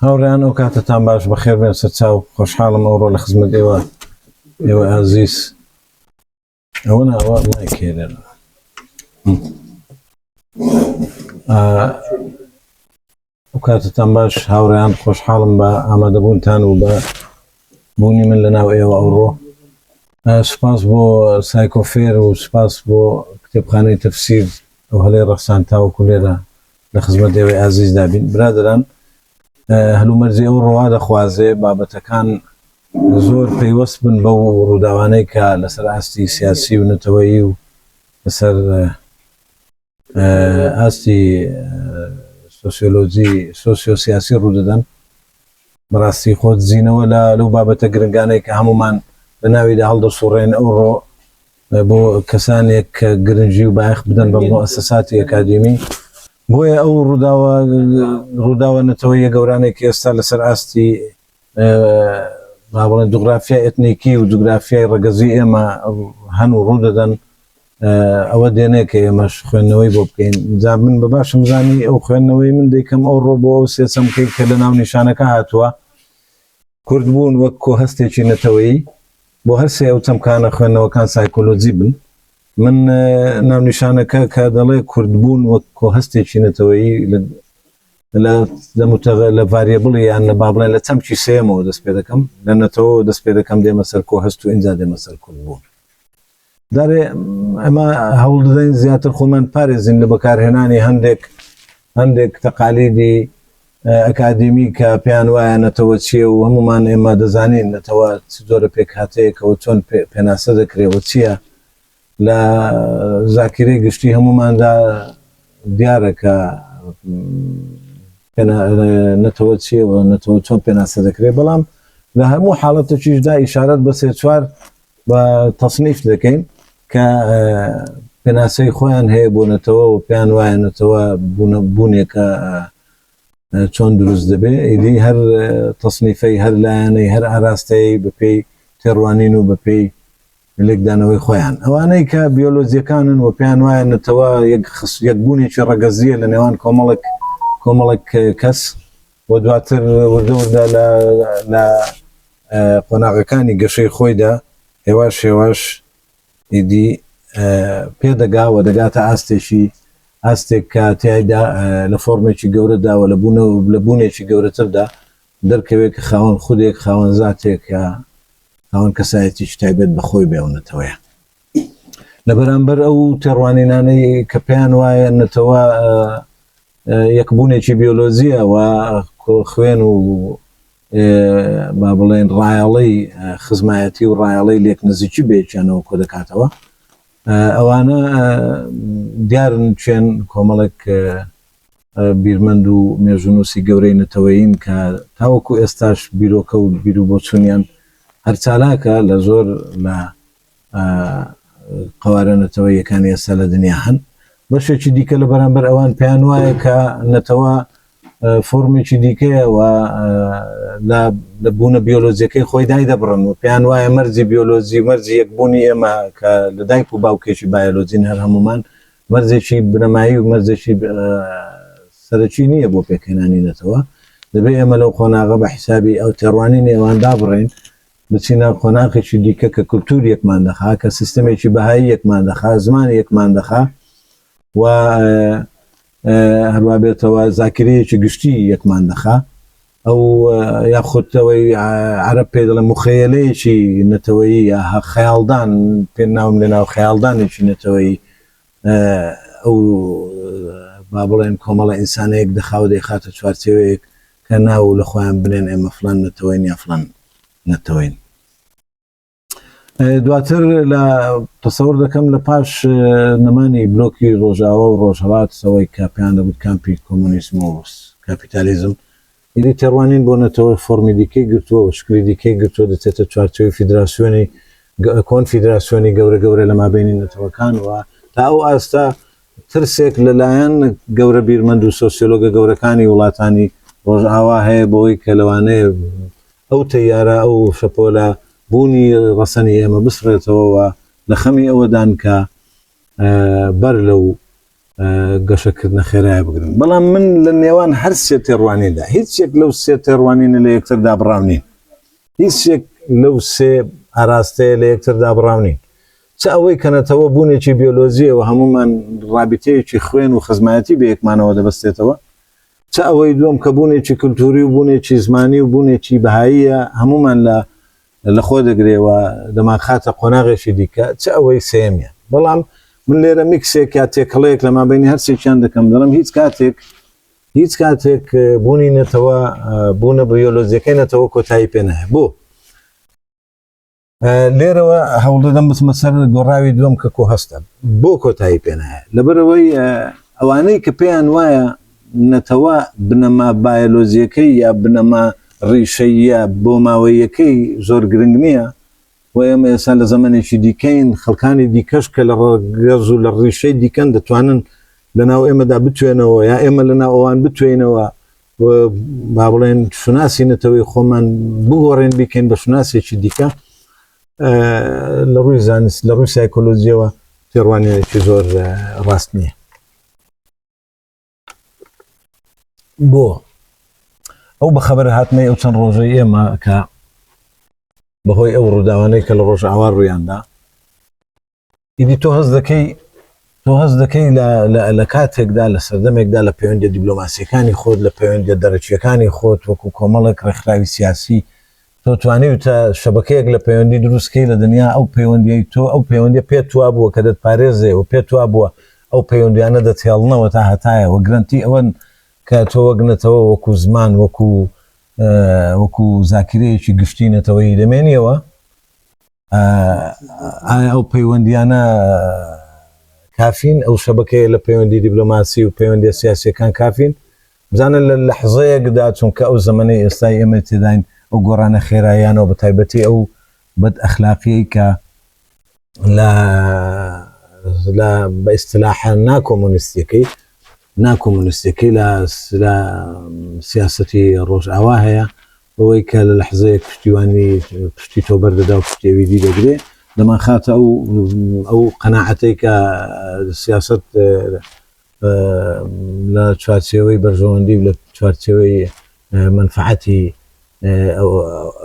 هاوڕێیان ئەوکاتەتان باش بەخێربێن سەرچاو خۆشحاڵم ئەوڕۆ لە خزمەت ئێوە ئێوە ئازیز ئەوە ناوە مایکێرن ئەوکاتەتان باش هاوڕێیان خۆشحاڵم بە ئامادەبوونتان و بە بوونی من لە ناو ئێوە ئەوڕۆ سپاس بۆ سایکۆفێر و سپاس بۆ کتێبخانەی تەفسیر ئەو هەلەی ڕەخسان تاوەکو لێرە لە خزمەت ئێوەی ئازیزدا بین. برادەران هەلومەرجی ئەو ڕۆا دەخوازێ بابەتەکان زۆر پەیوەست بن بەو ڕووداوانەی کە لەسەر ئاستی سیاسی و نەتەوەیی و لەسەر ئاستی سۆسیۆلۆجی سۆسیۆسیاسی ڕوودەدەن بەڕاستی خۆ دزینەوە لە لەو بابەتە گرنگانەی کە هەمومان لە ناویدا هەڵدەسوڕێن ئەو ڕۆ بۆ کەسانێک کە گرنگی و بایەخ بدەن بە موئەسەساتی ئەکادیمی بۆیە ئەو ڕووداوە ڕووداوە نەتەوەیە گەورانێک ئێستا لەسەر ئاستی مابڵێن جوگرافیای ئەتنیکی و جوگرافیای ڕەگەزی ئێمە هەن و ڕوودەدەن ئەوە دێنێ کە ئێمەش خوێندنەوەی بۆ بکەین جا من بە باشم زانی ئەو خوێندنەوەی من دەیکەم ئەو ڕۆ بۆ ئەو سێسەمکەی کە لە ناو نیشانەکە هاتووە کوردبوون وەک کۆهەستێکی نەتەوەیی بۆ هەر سێ ئەو چەمکانە خوێندنەوەکان سایکۆلۆجی بن. من ناونیشانەکە کە دەڵێ کوردبوون وەک کۆهەستێکی نەتەوەیی لە لە متەغە لە ڤاریبڵی یان لە با بڵێن لە چەمکی سێمەوە دەست پێ دەکەم لە نەتەوە دەست پێ دەکەم دێمە سەر کۆهەست و ئینجا دێمە سەر کوردبوون. دەبێ ئەمە هەوڵ دەدەین زیاتر خۆمان پارێزین لە بەکارهێنانی هەندێک هەندێک تەقالیدی ئەکادیمی کە پێیان وایە نەتەوە چیە و هەمومان ئێمە دەزانین نەتەوە چ جۆرە پێکهاتەیەکەوە چۆن پێناسە دەکرێەوە چییە لە زاکیرە گشتی هەموماندا دیارە کە نەتەوە چیە و نەتەوە چۆن پێناسە دەکرێت بەڵام لە هەموو حاڵەتەکیشدا ئیشارەت بەسێ چوار و تەسنیف دەکەین کە پێناسەی خۆیان هەیە بۆ نەتەوە و پێیان وایە نەتەوە بوونێکە چۆن دروست دەبێ ئیدی هەر تەسنیفەی هەر لایەنەی هەر ئاراستەیە بەپێی تێڕوانین و بەپێی لێکدانەوەی خۆیان ئەوانەی کە بیۆلۆجیەکانن و پێیان وایە نەتەوە یەک خس یەک بوونێکی ڕەگەزیە لە نێوان کۆمەڵک کۆمەڵک کەس و دواتر وردەوردا لە قۆناغەکانی گەشەی خۆیدا هێواش هێواش ئیدی پێدەگا و دەگاتە ئاستێکی ئاستێک کە تیایدا لە فۆرمێکی گەورەدا و لە بوونەوە لە بوونێکی گەورەتردا دەرکەوێت کە خاوەن خودێک خاوەن زاتێکە خاوەن کەسایەتیش تایبەت بە خۆی بێ و نەتەوەیە لە بەرامبەر ئەو تێڕوانینانەی کە پێیان وایە نەتەوە یەکبوونێکی بیۆلۆزیە و خوێن و با بڵێن ڕایەڵەی خزمایەتی و ڕایەڵەی لێک نزیکی بەیەکیانەوە کۆ دەکاتەوە ئەوانە دیارن چێن کۆمەڵێک بیرمەند و مێژونوسی گەورەی نەتەوەین کە تاوەکو ئێستاش بیرۆکە و بیرو بۆچونیان هەرچالاکە لە زۆر لە قەوارە نەتەوەییەکانی ئێستا لە دنیا هەن بەشێکی دیکە لە بەرامبەر ئەوان پێیان وایە کە نەتەوە فۆرمێکی دیکەیە و لە بوونە بیۆلۆزیەکەی خۆی دای دەبڕن و پێیان وایە مەرزی بیۆلۆزی و مەرزی یەکبوونی ئێمە کە لە دایک و باوکێکی بایۆلۆجین هەر هەمومان مەرزێکی بنەمایی و مەرزێکی سەرەکی نییە بۆ پێکهێنانی نەتەوە دەبێ ئێمە لەو قۆناغە بە حیسابی ئەو تێڕوانی نێوان دابڕین بچینە قۆناغێکی دیکە کە کولتوور یەکمان دەخا، کە سیستەمێکی بەهایی یەکمان دەخا، زمان یەکمان دەخا و هەروا بێتەوە زاکرەیەکی گشتی یەکمان دەخا. ئەو یاخودەوەی عرب پێ دەڵێ مخەیەلەیەکی نەتەوەیی یا خەیاڵدان پێ ناوم لە ناو خەیاڵدانێکی نەتەوەیی ئەو با بڵێن کۆمەڵە ئینسانەیەک دەخاو دەیخاتە چوارچێوەیەک کە ناو لە خۆیان بنێن ئێمە فلان نەتەوەین یا فلان نەتەوەین دواتر لە تەسەور دەکەم لە پاش نەمانی بلۆکی ڕۆژاوە و ڕۆژهڵات سەوەی کاپیان دەگوت کامپی کۆمۆنیسم و کاپیتالیزم ئیدی تێڕوانین بۆ نەتەوە فۆرمی دیکەی گرتووە و شکلی دیکەی گرتووە، دەچێتە چوارچێوەی فیدراسیۆنی کۆنفیدراسیۆنی گەورە گەورە لە مابەینی نەتەوەکان و تا ئەو ئاستە ترسێک لە لایەن گەورە بیرمەند و سۆسیۆلۆگە گەورەکانی وڵاتانی ڕۆژئاوا هەیە بەوەی کە لەوانەیە ئەو تەیارە ئەو شەپۆلە بوونی ڕەسەنی ئێمە بسڕێتەوە و لە خەمی ئەوەدان کە بەر لەو گەشەکردنە خێرایە بگرن بەڵام من لە نێوان هەر سێ تێڕوانیندا هیچ یەک لەو سێ تێڕوانینە لە یەکتر دابڕاونین هیچ یەک لەو سێ ئاراستەیە لە یەکتر دابڕاونین چ ئەوەی کەنەتەوە بوونێکی بیۆلۆزیەوە هەمومان ڕابتەیەکی خوێن و خزمایەتی بە یەکمانەوە دەبستێتەوە چ ئەوەی دوم کە بوونێکی کللتوری و بوونێکی زمانی و بوونێکی بەهاییە هەمومان لە لە خۆ دەگرێ و دەمانخاتە قۆناغێکی دیکە، چ ئەوەی سێیەمیان. بەڵام من لێرە میکسێک یا تێکەڵەیەک لە مابەینی هەر سێکیان دەکەم، دەڵێم هیچ کاتێک هیچ کاتێک بوونی نەتەوە، بوونە بیۆلۆجیەکەی نەتەوە کۆتایی پێ نایە. بۆ؟ لێرەوە هەوڵ دەدەم بچمە سەر گۆڕاوی دووەم کە کۆهەستە. بۆ کۆتایی پێ نایە؟ لەبەرەوەی ئەوانەی کە پێیان وایە نەتەوە بنەما بایەلۆجیەکەی یا بنەما ڕیشەییە بۆماوەییەکەی زۆر گرنگ نیە و ئێمە ئێستا لە زەمەنێکی دیکەین خەڵکانی دیکەش کە لە ڕەگەز و لە ڕیشەی دیکەن دەتوانن لە ناو ئێمەدا بتوێنەوە یا ئێمە لە ناو ئەوان بتوێینەوە و با بڵێن شوناسی نەتەوەی خۆمان بگۆڕێن بیکەین بە شوناسێکی دیکە لە ڕووی زانست لە ڕووی سایکۆلۆژیەوە تێڕوانینێکی زۆر ڕاست نییە. بۆ ئەو بە خەبەر هاتنەی ئەو چەند ڕۆژەی ئێمە کە بەهۆی ئەو ڕووداوانەی کە لە ڕۆژ ئاوا ڕوویاندا ئیدی تۆ هەز دەکەی تۆ هەز دەکەی لە کاتێکدا لە سەردەمێکدا لە پەیوەندە دیبلۆماسیەکانی خۆت لە پەیوەندە دەرەکیەکانی خۆت وەکو کۆمەڵێک ڕێکخراوی سیاسی تۆ توانیوتە شەبەکەیەک لە پەیوەندی دروست کەی لە دنیا ئەو پەیوەندیەی تۆ ئەو پەیوەندیە پێت وا بووە کە دەت پارێزێ و پێت وا بووە ئەو پەیوەندیانە دەتهێڵنەوە تا هەتایە و گرنتی ئەوەن کە تۆ وەک نەتەوە وەکو زمان وەکو وەکو زاکرەیەکی گشتی نەتەوەی دەمێنیەوە ئایا ئەو پەیوەندییانە کافین؟ ئەو شەبەکەیە لە پەیوەندی دیبلۆماسی و پەیوەندیە سیاسیەکان کافین؟ بزانە لە لەحزەیەکدا چونکە ئەو زەمەنەی ئێستای ئێمە تێداین ئەو گۆڕانە خێرایانەوە بە تایبەتی ئەو بەد ئەخلاقیەی کە لە لە بە ئیسلاحە ناکۆمونیستەکەی ناکۆمونیستەکەی لە سیاسەتی ڕۆژئاوا هەیە بەوەی کە لە لەحزەیەک پشتیوانی پشتی تۆ بەردەدا و پشتی ئەوی دی دەگرێ دەمانخاتە ئەو ئەو قەناعەتەی کە سیاسەت لە چوارچێوەی بەرژەوەندی و لە چوارچێوەی مەنفەعەتی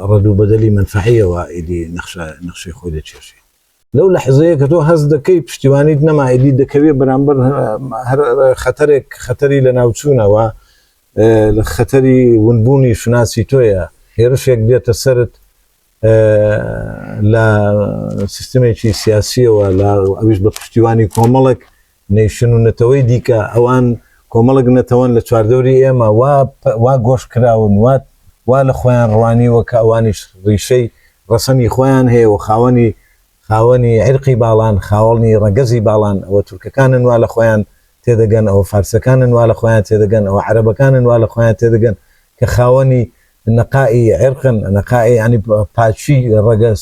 ڕەد و بەدەلی مەنفەعییەوە ئیدی نەخشە نەخشەی خۆی دەکێشێ. لەو لەحزەیە کە تۆ هەست دەکەی پشتیوانیت نەما ئیدی دەکەوێ بەرامبەر هەر خەتەرێک خەتەری لە ناوچوونەوە خەتەری ونبوونی شوناسی تۆیە هێرشێک دێتە سرت لە سیستمێکی سیاسیەوە لە ئەویش بە پشتیوانی کۆمەڵک نەیشن و نەتەوەی دیکە، ئەوان کۆمەڵێک نەتەوەن لە چواردەوری ئێمە، وا وا گۆش کراون، وا وا لە خۆیان ڕوانیوە کە ئەوانیش ڕیشەی ڕەسەنی خۆیان هەیە و خاوەنی خاوەنی عیرقی باڵان، خاوەنی ڕەگەزی باڵان، ئەوە تورکەکانن وا لە خۆیان تێدەگەن، ئەوە فارسەکانن وا لە خۆیان تێدەگەن، ئەوە عەرەبەکانن وا لە خۆیان تێدەگەن کە خاوەنی نەقائی عیرقن، نەقائی یەعنی پاکی ڕەگەز،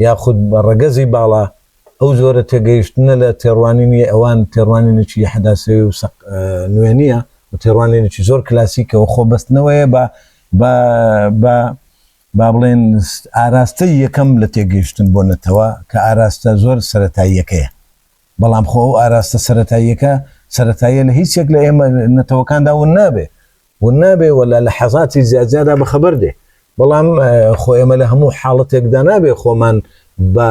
یاخود بە ڕەگەزی باڵا، ئەو جۆرە تێگەیشتنە لە تێڕوانینی ئەوان تێڕوانینێکی حەداسەوی و سەق نوێ نییە و تێڕوانینێکی زۆر کلاسیکە و خۆبەستنەوەیە بە بە بە با بڵێین ئاراستەی یەکەم لە تێگەیشتن بۆ نەتەوە کە ئاراستە زۆر سەرەتاییەکەیە. بەڵام خۆ ئەو ئاراستە سەرەتاییەکە سەرەتاییە لە هیچ یەک لە ئێمە نەتەوەکاندا ون نابێ و نابێ و لە لەحەزاتی جیاجیادا بە خەبەر دێ، بەڵام خۆ ئێمە لە هەموو حاڵەتێکدا نابێ خۆمان بە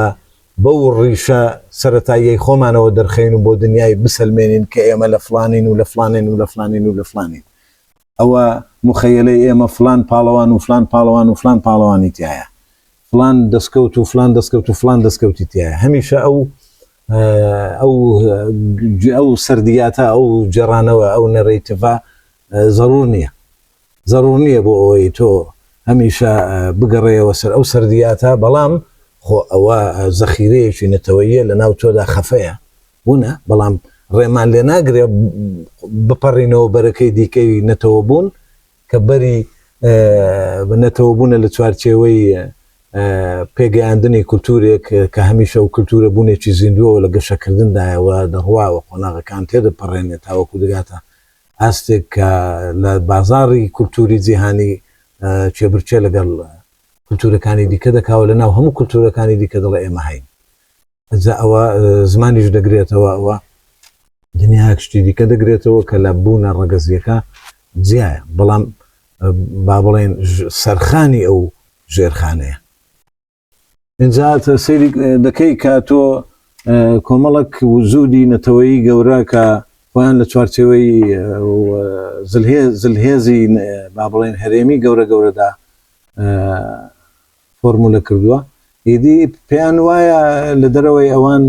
بەو ڕیشە سەرەتاییەی خۆمانەوە دەرخەین و بۆ دنیای بسەلمێنین کە ئێمە لە فڵانین و لە فڵانین و لە فڵانین و لە فڵانین. ئەوە موخەیەلەی ئێمە فڵان پاڵەوان و فڵان پاڵەوان و فڵان پاڵەوانی تیایە، فڵان دەسکەوت و فڵان دەسکەوت و فڵان دەسکەوتی تیایە، هەمیشە ئەو ئەو ئەو سەردیاتە ئەو گێڕانەوە ئەو نەرەیتڤە زەرور نییە زەرور نییە بۆ ئەوەی تۆ هەمیشە بگەڕێەوە سەر ئەو سەردیاتە بەڵام خۆ ئەوە زەخیرەیەکی نەتەوەیە لە ناو تۆدا خەفەیە بوونە بەڵام ڕێمان لێ ناگرێ بپەڕینەوە بەرەکەی دیکەی نەتەوە بوون کە بەری بە نەتەوەبوونە لە چوارچێوەی پێگەیاندنی کولتوورێک کە هەمیشە و کولتوورە بوونێکی زیندووە و لە گەشەکردندایە و دەڕوا و قۆناغەکان تێدەپەڕێنێ تاوەکو دەگاتە ئاستێک کە لە بازاڕی کولتووری جیهانی کێبرکێ لەگەڵ کولتوورەکانی دیکە دەکا و لەناو هەموو کولتوورەکانی دیکە دەڵێ ئێمە هەین جا ئەوە زمانیش دەگرێتەوە ئەوە دنیاک شتی دیکە دەگرێتەوە کە لە بوونە ڕەگەزیەکە جیایە بەڵام با بڵێن سەرخانی ئەو ژێرخانەیە اینجا سری دەکەی کە تۆ کۆمەڵک وزودی نەتەوەی گەورە کە خۆیان لە چوارچەوەی زلهێزی با بڵێن هەرێمی گەورە گەورەدا فۆرمولە کردووە ئیدی پێیان وایە لە دەرەوەی ئەوان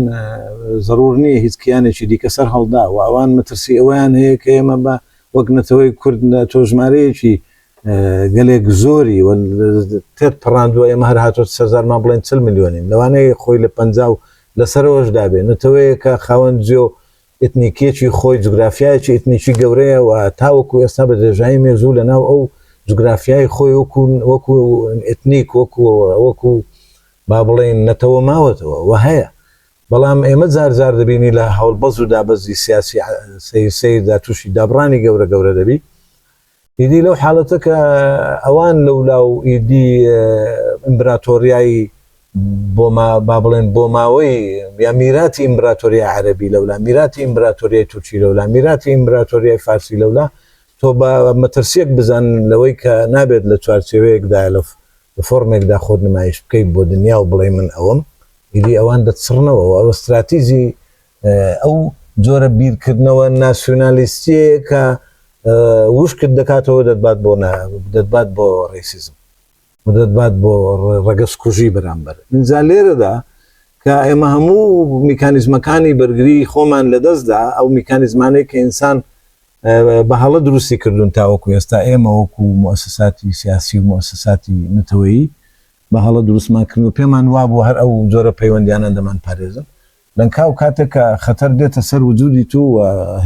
زەرور نییە هیچ کیانێکی دیکە سەر هەڵدا و ئەوان مەترسی ئەوەیان هەیە کە ئێمە بە وەک نەتەوەی کورد لە تۆ ژمارەیەکی گەلێک زۆری تێت پەڕاندووە ئێمە هەر هاتۆ سەرزارمان بڵێن چل میلیۆنین لەوانەیە خۆی لە پ لەسەرەوەش دابێ نەتەوەیەکە خاوەن جێ و ئیتنیکیەکی خۆی جوگرافیایەکی ئیتنیکی گەورەیە و تاوەکو ئێستا بە درێژایی مێژوو لە ناو ئەو جوگرافیای خۆی وەکو وەکو ئیتنیک وەکو وەکو با بڵێین نەتەوە ماوەتەوە و هەیە بەڵام ئێمە جار جار دەبینی لە هەڵبەز و دابەزی سیاسی سەیر سەیردا تووشی دابڕانی گەورە گەورە دەبی ئیدی لەو حالەتە کە ئەوان لەولا و ئیدی ئیمبراتۆریای بۆ با بڵێن بۆ ماوەی یا میراتی ئیمبراتۆریا عەربی لەولا میراتی ئیمبراتۆریای تورکی لەولا میراتی ئیمبراتۆریای فارسی لەولا تۆ بە مەترسیەک بزان لەوەی کە نابێت لە چوارچێوەیەکدا لە فۆرمێکدا خۆت نمایش بکەیت بۆ دنیا و بڵێ من ئەوم ئیدی ئەوان دەچڕنەوە ئەوە استراتیزی ئەو جۆرە بیرکردنەوە ناسیونالیستیەیە کە وشکت دەکاتەوە دەتبات بۆ دەتبات بۆ ڕیسیزم و دەتبات بۆ ڕەگەز کوژی بەرامبەر ئینجا لێرەدا کە ئێمە هەموو میکانیزمەکانی بەرگری خۆمان لەدەستدا ئەو میکانیزمانەی کە ئینسان بە هەڵە دروستی کردوون تاوەکو ئێستا ئێمە وەکو مؤسساتی سیاسی و مؤسساتی نەتەوەیی بە هەڵە دروستمان کردن و پێمان وابوو هەر ئەو جۆرە پەیوەندیانە دەمان پارێزن لەنکاو کاتێک کە خەتەر دێتە سەر وجودی تو و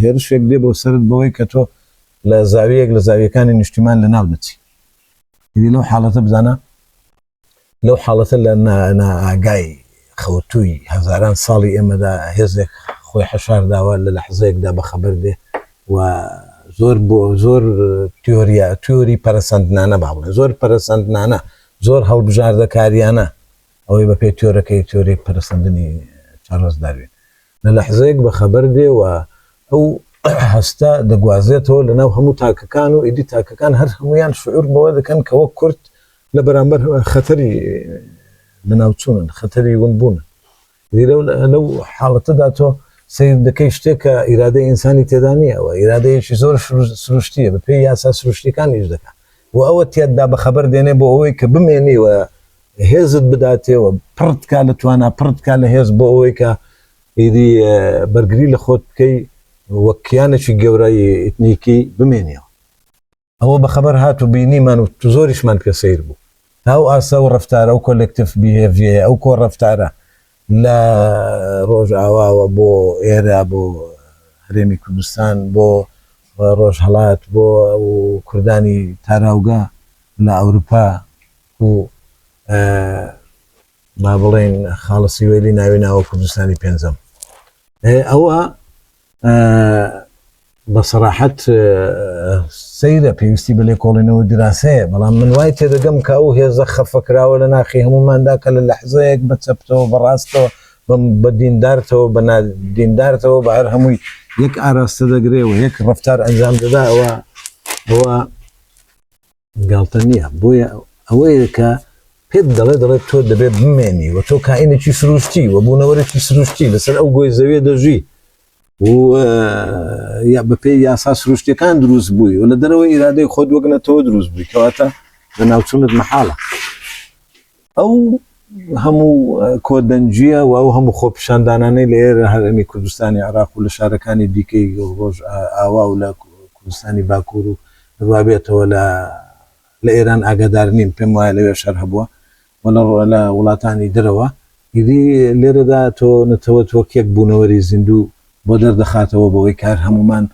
هێرشێک دێ بۆ سەرت بەوەی کە تۆ لە زاویەیەک لە زاویەکانی نیشتیمان لە ناو دەچی ئیدی لەو حاڵەتە بزانە لەو حاڵەتە لە نائاگای خەوتووی هەزاران ساڵی ئێمەدا هێزێک خۆی حەشار داوە لە لەحزەیەکدا بە خەبەر دێ و زۆر بۆ زۆر تیۆریا تیۆری پەرەسەندنانە باڵێ زۆر پەرەسەندنانە زۆر هەڵبژاردەکاریانە ئەوەی بە پێی تیۆرەکەی، تیۆری پەرەسەندنی چارڵس داروین، لە لەحزەیەک بە خەبەر دێ و ئەو هەستە دەگوازێتەوە لە ناو هەموو تاکەکان و ئیدی تاکەکان هەر هەموویان شعور بەوە دەکەن کە وەک کورد لە بەرامبەر خەتەری لە ناوچوونن، خەتەری ونبوونن. لیرە لەو حاڵەتەدا تۆ سەیر دەکەی شتێک کە ئیرادەی ئینسانی تێدا نییە و ئیرادەیەکی زۆر سروشتیە بە پێی یاسا سروشتیەکان ئیش دەکە و ئەوە تێتدا بە خەبەر دێنێ بۆ ئەوەی کە بمێنی و هێزت بداتێەوە پڕتکا لە توانا پڕتکا لە هێز بۆ ئەوەی کە ئیدی بەرگری لە خۆت بکەی وەک کیانێکی گەورای ئیتنیکی بمێنیەوە ئەوە بە خەبەر هات و بینیمان و زۆریشمان پێ سەیر بوو تا ئەو ئاستە ئەو ڕەفتارە ئەو کۆلێکتیڤ بیهێڤیەیە ئەو کۆ ڕەفتارە لە ڕۆژئاواوە بۆ ئێرە بۆ هەرێمی کوردستان بۆ ڕۆژهەڵات بۆ کوردانی تاراوگە لە ئەوروپا و با بڵێین خاڵە سیوەیلی ناوی ناوە کوردستانی پێنجەم ئەوە ئە بە سەراحەت سەیرە پێویستی بە لێکۆڵینەوە دراسەیە بەڵام من وای تێدەگەم کە ئەو هێزە خەفەکراوە لە ناخی هەموماندا کە لە لەحزەیەک بە چەپتەوە بەڕاستەوە بە دیندارتەوە بە نادیندارتەوە بە هەر هەمووی یەک ئاراستە دەگرێ و یەک ڕفتار ئەنجام دەدا ئەوە ئەوە گاڵتە نییە بۆیە ئەوەیە کە پێت دەڵێ دەڵێت تۆ دەبێت بمێنی و تۆ کائینێکی سروشتی و بوونەوەرەی سروشتی لەسەر ئەو گۆی زەویە دەژی یا بەپێ یاسا سروشتەکان دروست بووی و لە دەرەوە ئیرادەی خۆت وەگنەتەوە دروست بووی کەواتە لە ناوچونت مححاڵە ئەو هەموو کۆدەنجە و ئەو هەموو خۆپیشاندانانەی لە ئێرە هەرێمی کوردستانی عراق و لە شارەکانی دیکەی ڕۆژ ئاوا و لە کوردستانی باکوور و ڕوابێتەوە لە لە ئێران ئاگادار نیم پێم وایە لەوێ شەر هەبووە و لە ڕۆ لە وڵاتانی درەوە ئیدی لێرەدا تۆ نەتەوە تۆکێک بوونەوەری زیندوو بۆ دەردەخاتەوە بەوەی کار هەمومان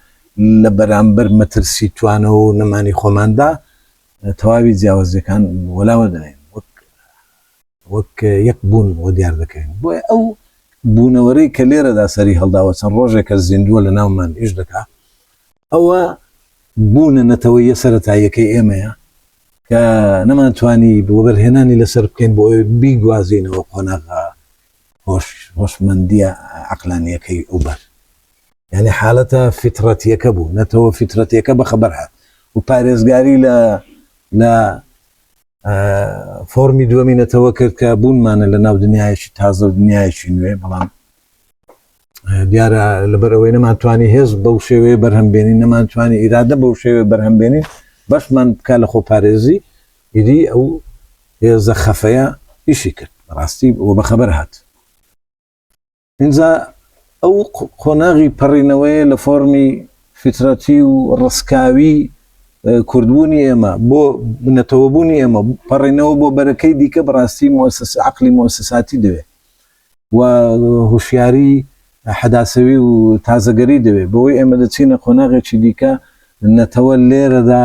لە بەرامبەر مەترسی توانەوە و نەمانی خۆماندا تەواوی جیاوازیەکان وەلا وەردەنێین وەک وەک یەک بوون وە دیار دەکەین بۆیە ئەو بوونەوەرەی کە لێرەدا سەری هەڵداوە چەند ڕۆژێکە زیندووە لە ناومان ئیش دەکا ئەوە بوونە نەتەوەیە سەتاییەکەی ئێمەیە کە نەمان توانی بۆبەرهێنانی لەسەر بکەین بۆ بیگوازینەوە قۆناغا هۆش هۆشمەندیە عقلانیەکەی ئەوبەر یانی حالەتە فیتڕەتیەکە بوو نەتەوە فیتڕەتیەکە بەخەبەر هات و پارێزگاری لە لە فۆرمی دووەمی نەتەوە کرد کە بوونمانە لە ناو دنیایەکی تازە و دنیایەکی نوێ بەڵام دیارە لەبەرەوەی نەمانتوانی هێز بەو شێوەیە بەرهەمبێنی نەمانتوانی ئیرادە بەو شێوێ بەرهەمبێنین بەشمان بکە لە خۆپارێزی ئیدی ئەو هێزە خەفەیە ئیشی کرد ڕاستی بۆ بەخەبەر هات ئینجا ئەو قۆناغی پەڕینەوەیە لە فۆرمی فیترەتی و ڕسکاوی کوردبوونی ئێمە بۆ بنەتەوەبوونی ئێمە پەڕینەوە بۆ بەرەکەی دیکە بەڕاستی مؤسس عقلی مؤسساتی دەوێت و هوشیاری حەداسەوی و تازەگەری دەوێت بۆی ئێمە دەچینە قۆناغێکی دیکە نەتەوە لێرەدا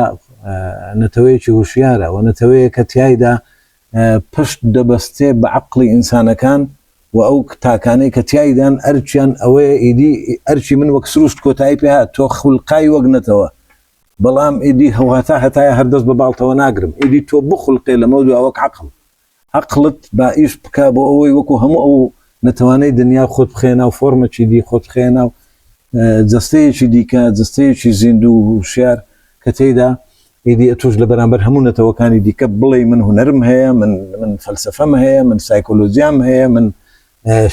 نەتەوەیەکی هوشیارە و نەتەوەیە کە تایدا پشت دەبەستێ بە عەقڵی ئینسانەکان و ئەو تاکانەی کە تیایدان ئەرکیان ئەوەیە ئیدی ئەرکی من وەک سروشت کۆتایی پێ هات تۆ خولقای وەک نەتەوە بەڵام ئیدی هەوهەتا هەتایە هەر دەست بە باڵتەوە ناگرم ئیدی تۆ بخولقێ لەمەو دوا وەک عەقڵ عەقڵت با ئیش بکا بۆ ئەوەی وەکو هەموو ئەو نەتەوانەی دنیا خۆت بخەیە ناو فۆرمەکی دی خۆت بخەیە ناو جەستەیەکی دیکە جەستەیەکی زیندوو و هوشیار کە تێیدا ئیدی ئەتوش لە بەرامبەر هەموو نەتەوەکانی دیکە بڵێی من هونەرم هەیە من من فەلسفەم هەیە من سایکۆلۆژیام هەیە من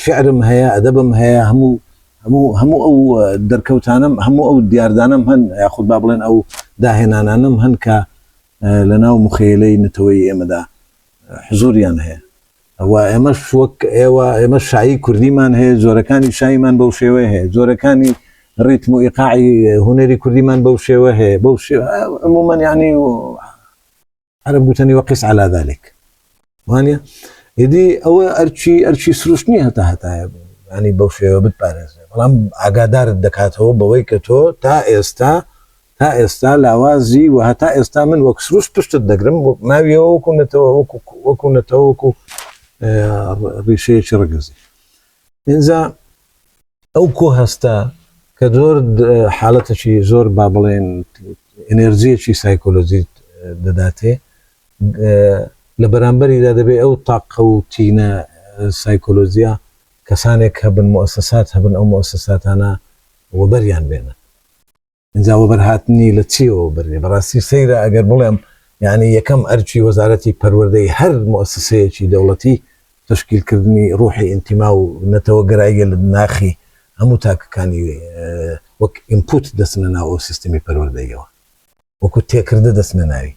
شعرم هەیە ئەدەبم هەیە هەموو هەموو هەموو ئەو دەرکەوتانم هەموو ئەو دیاردانم هەن یاخود با بڵێن ئەو داهێنانانم هەن کە لە ناو مخەیلەی نەتەوەی ئێمەدا حزوریان هەیە ئەوا ئێمەش وەک ئێوە ئێمە شایی کوردیمان هەیە جۆرەکانی شاییمان بەو شێوەیە هەیە جۆرەکانی ڕیتم و ئیقاعی هونەری کوردیمان بەو شێوە هەیە بەو شێوە عمومەن یعنی و عرب گوتنی وەقیس على ذلك وانە ئیدی ئەوە ئەرچی ئەرچی سروش نییە هەتا هەتایە ینی بەو شێوە بتپارێزێ بەڵام ئاگادارت دەکاتەوە بەوەی کە تۆ تا ئێستا تا ئێستا لاوازی و هەتا ئێستا من وەک سروش پشتت دەگرم ماویەوە وەکو نەتەوە وەکو نەتەوە وەکو ڕیشەیەکی ڕگزی ئینجا ئەو کۆ هەستە کە زۆر حالەتەکی زۆر با بڵێن ئەنێرجیەکی سایکۆلۆجیت دەداتێ لە بەرامبەریدا دەبێت ئەو تاقە و تینە سایکۆلۆجیە کەسانێک هەبن مؤسسات هەبن ئەو مؤسساتانە وەبەریان بێنن ئینجا وەبەرهاتنی لە چیەوە بەرێ؟ بەڕاستی سەیرە ئەگەر بڵێم یەعنی یەکەم ئەرکی وەزارەتی پەروەردەی هەر موئەسسەیەکی دەوڵەتی تەشکیل کردنی ڕوحی ئینتیما و نەتەوە گەراییە لە ناخی هەموو تاکەکانی وەک ئینپوت دەچنە ناو ئەو سیستمی پەروەردەییەوە وەکو تێکردە دەچنە ناوی.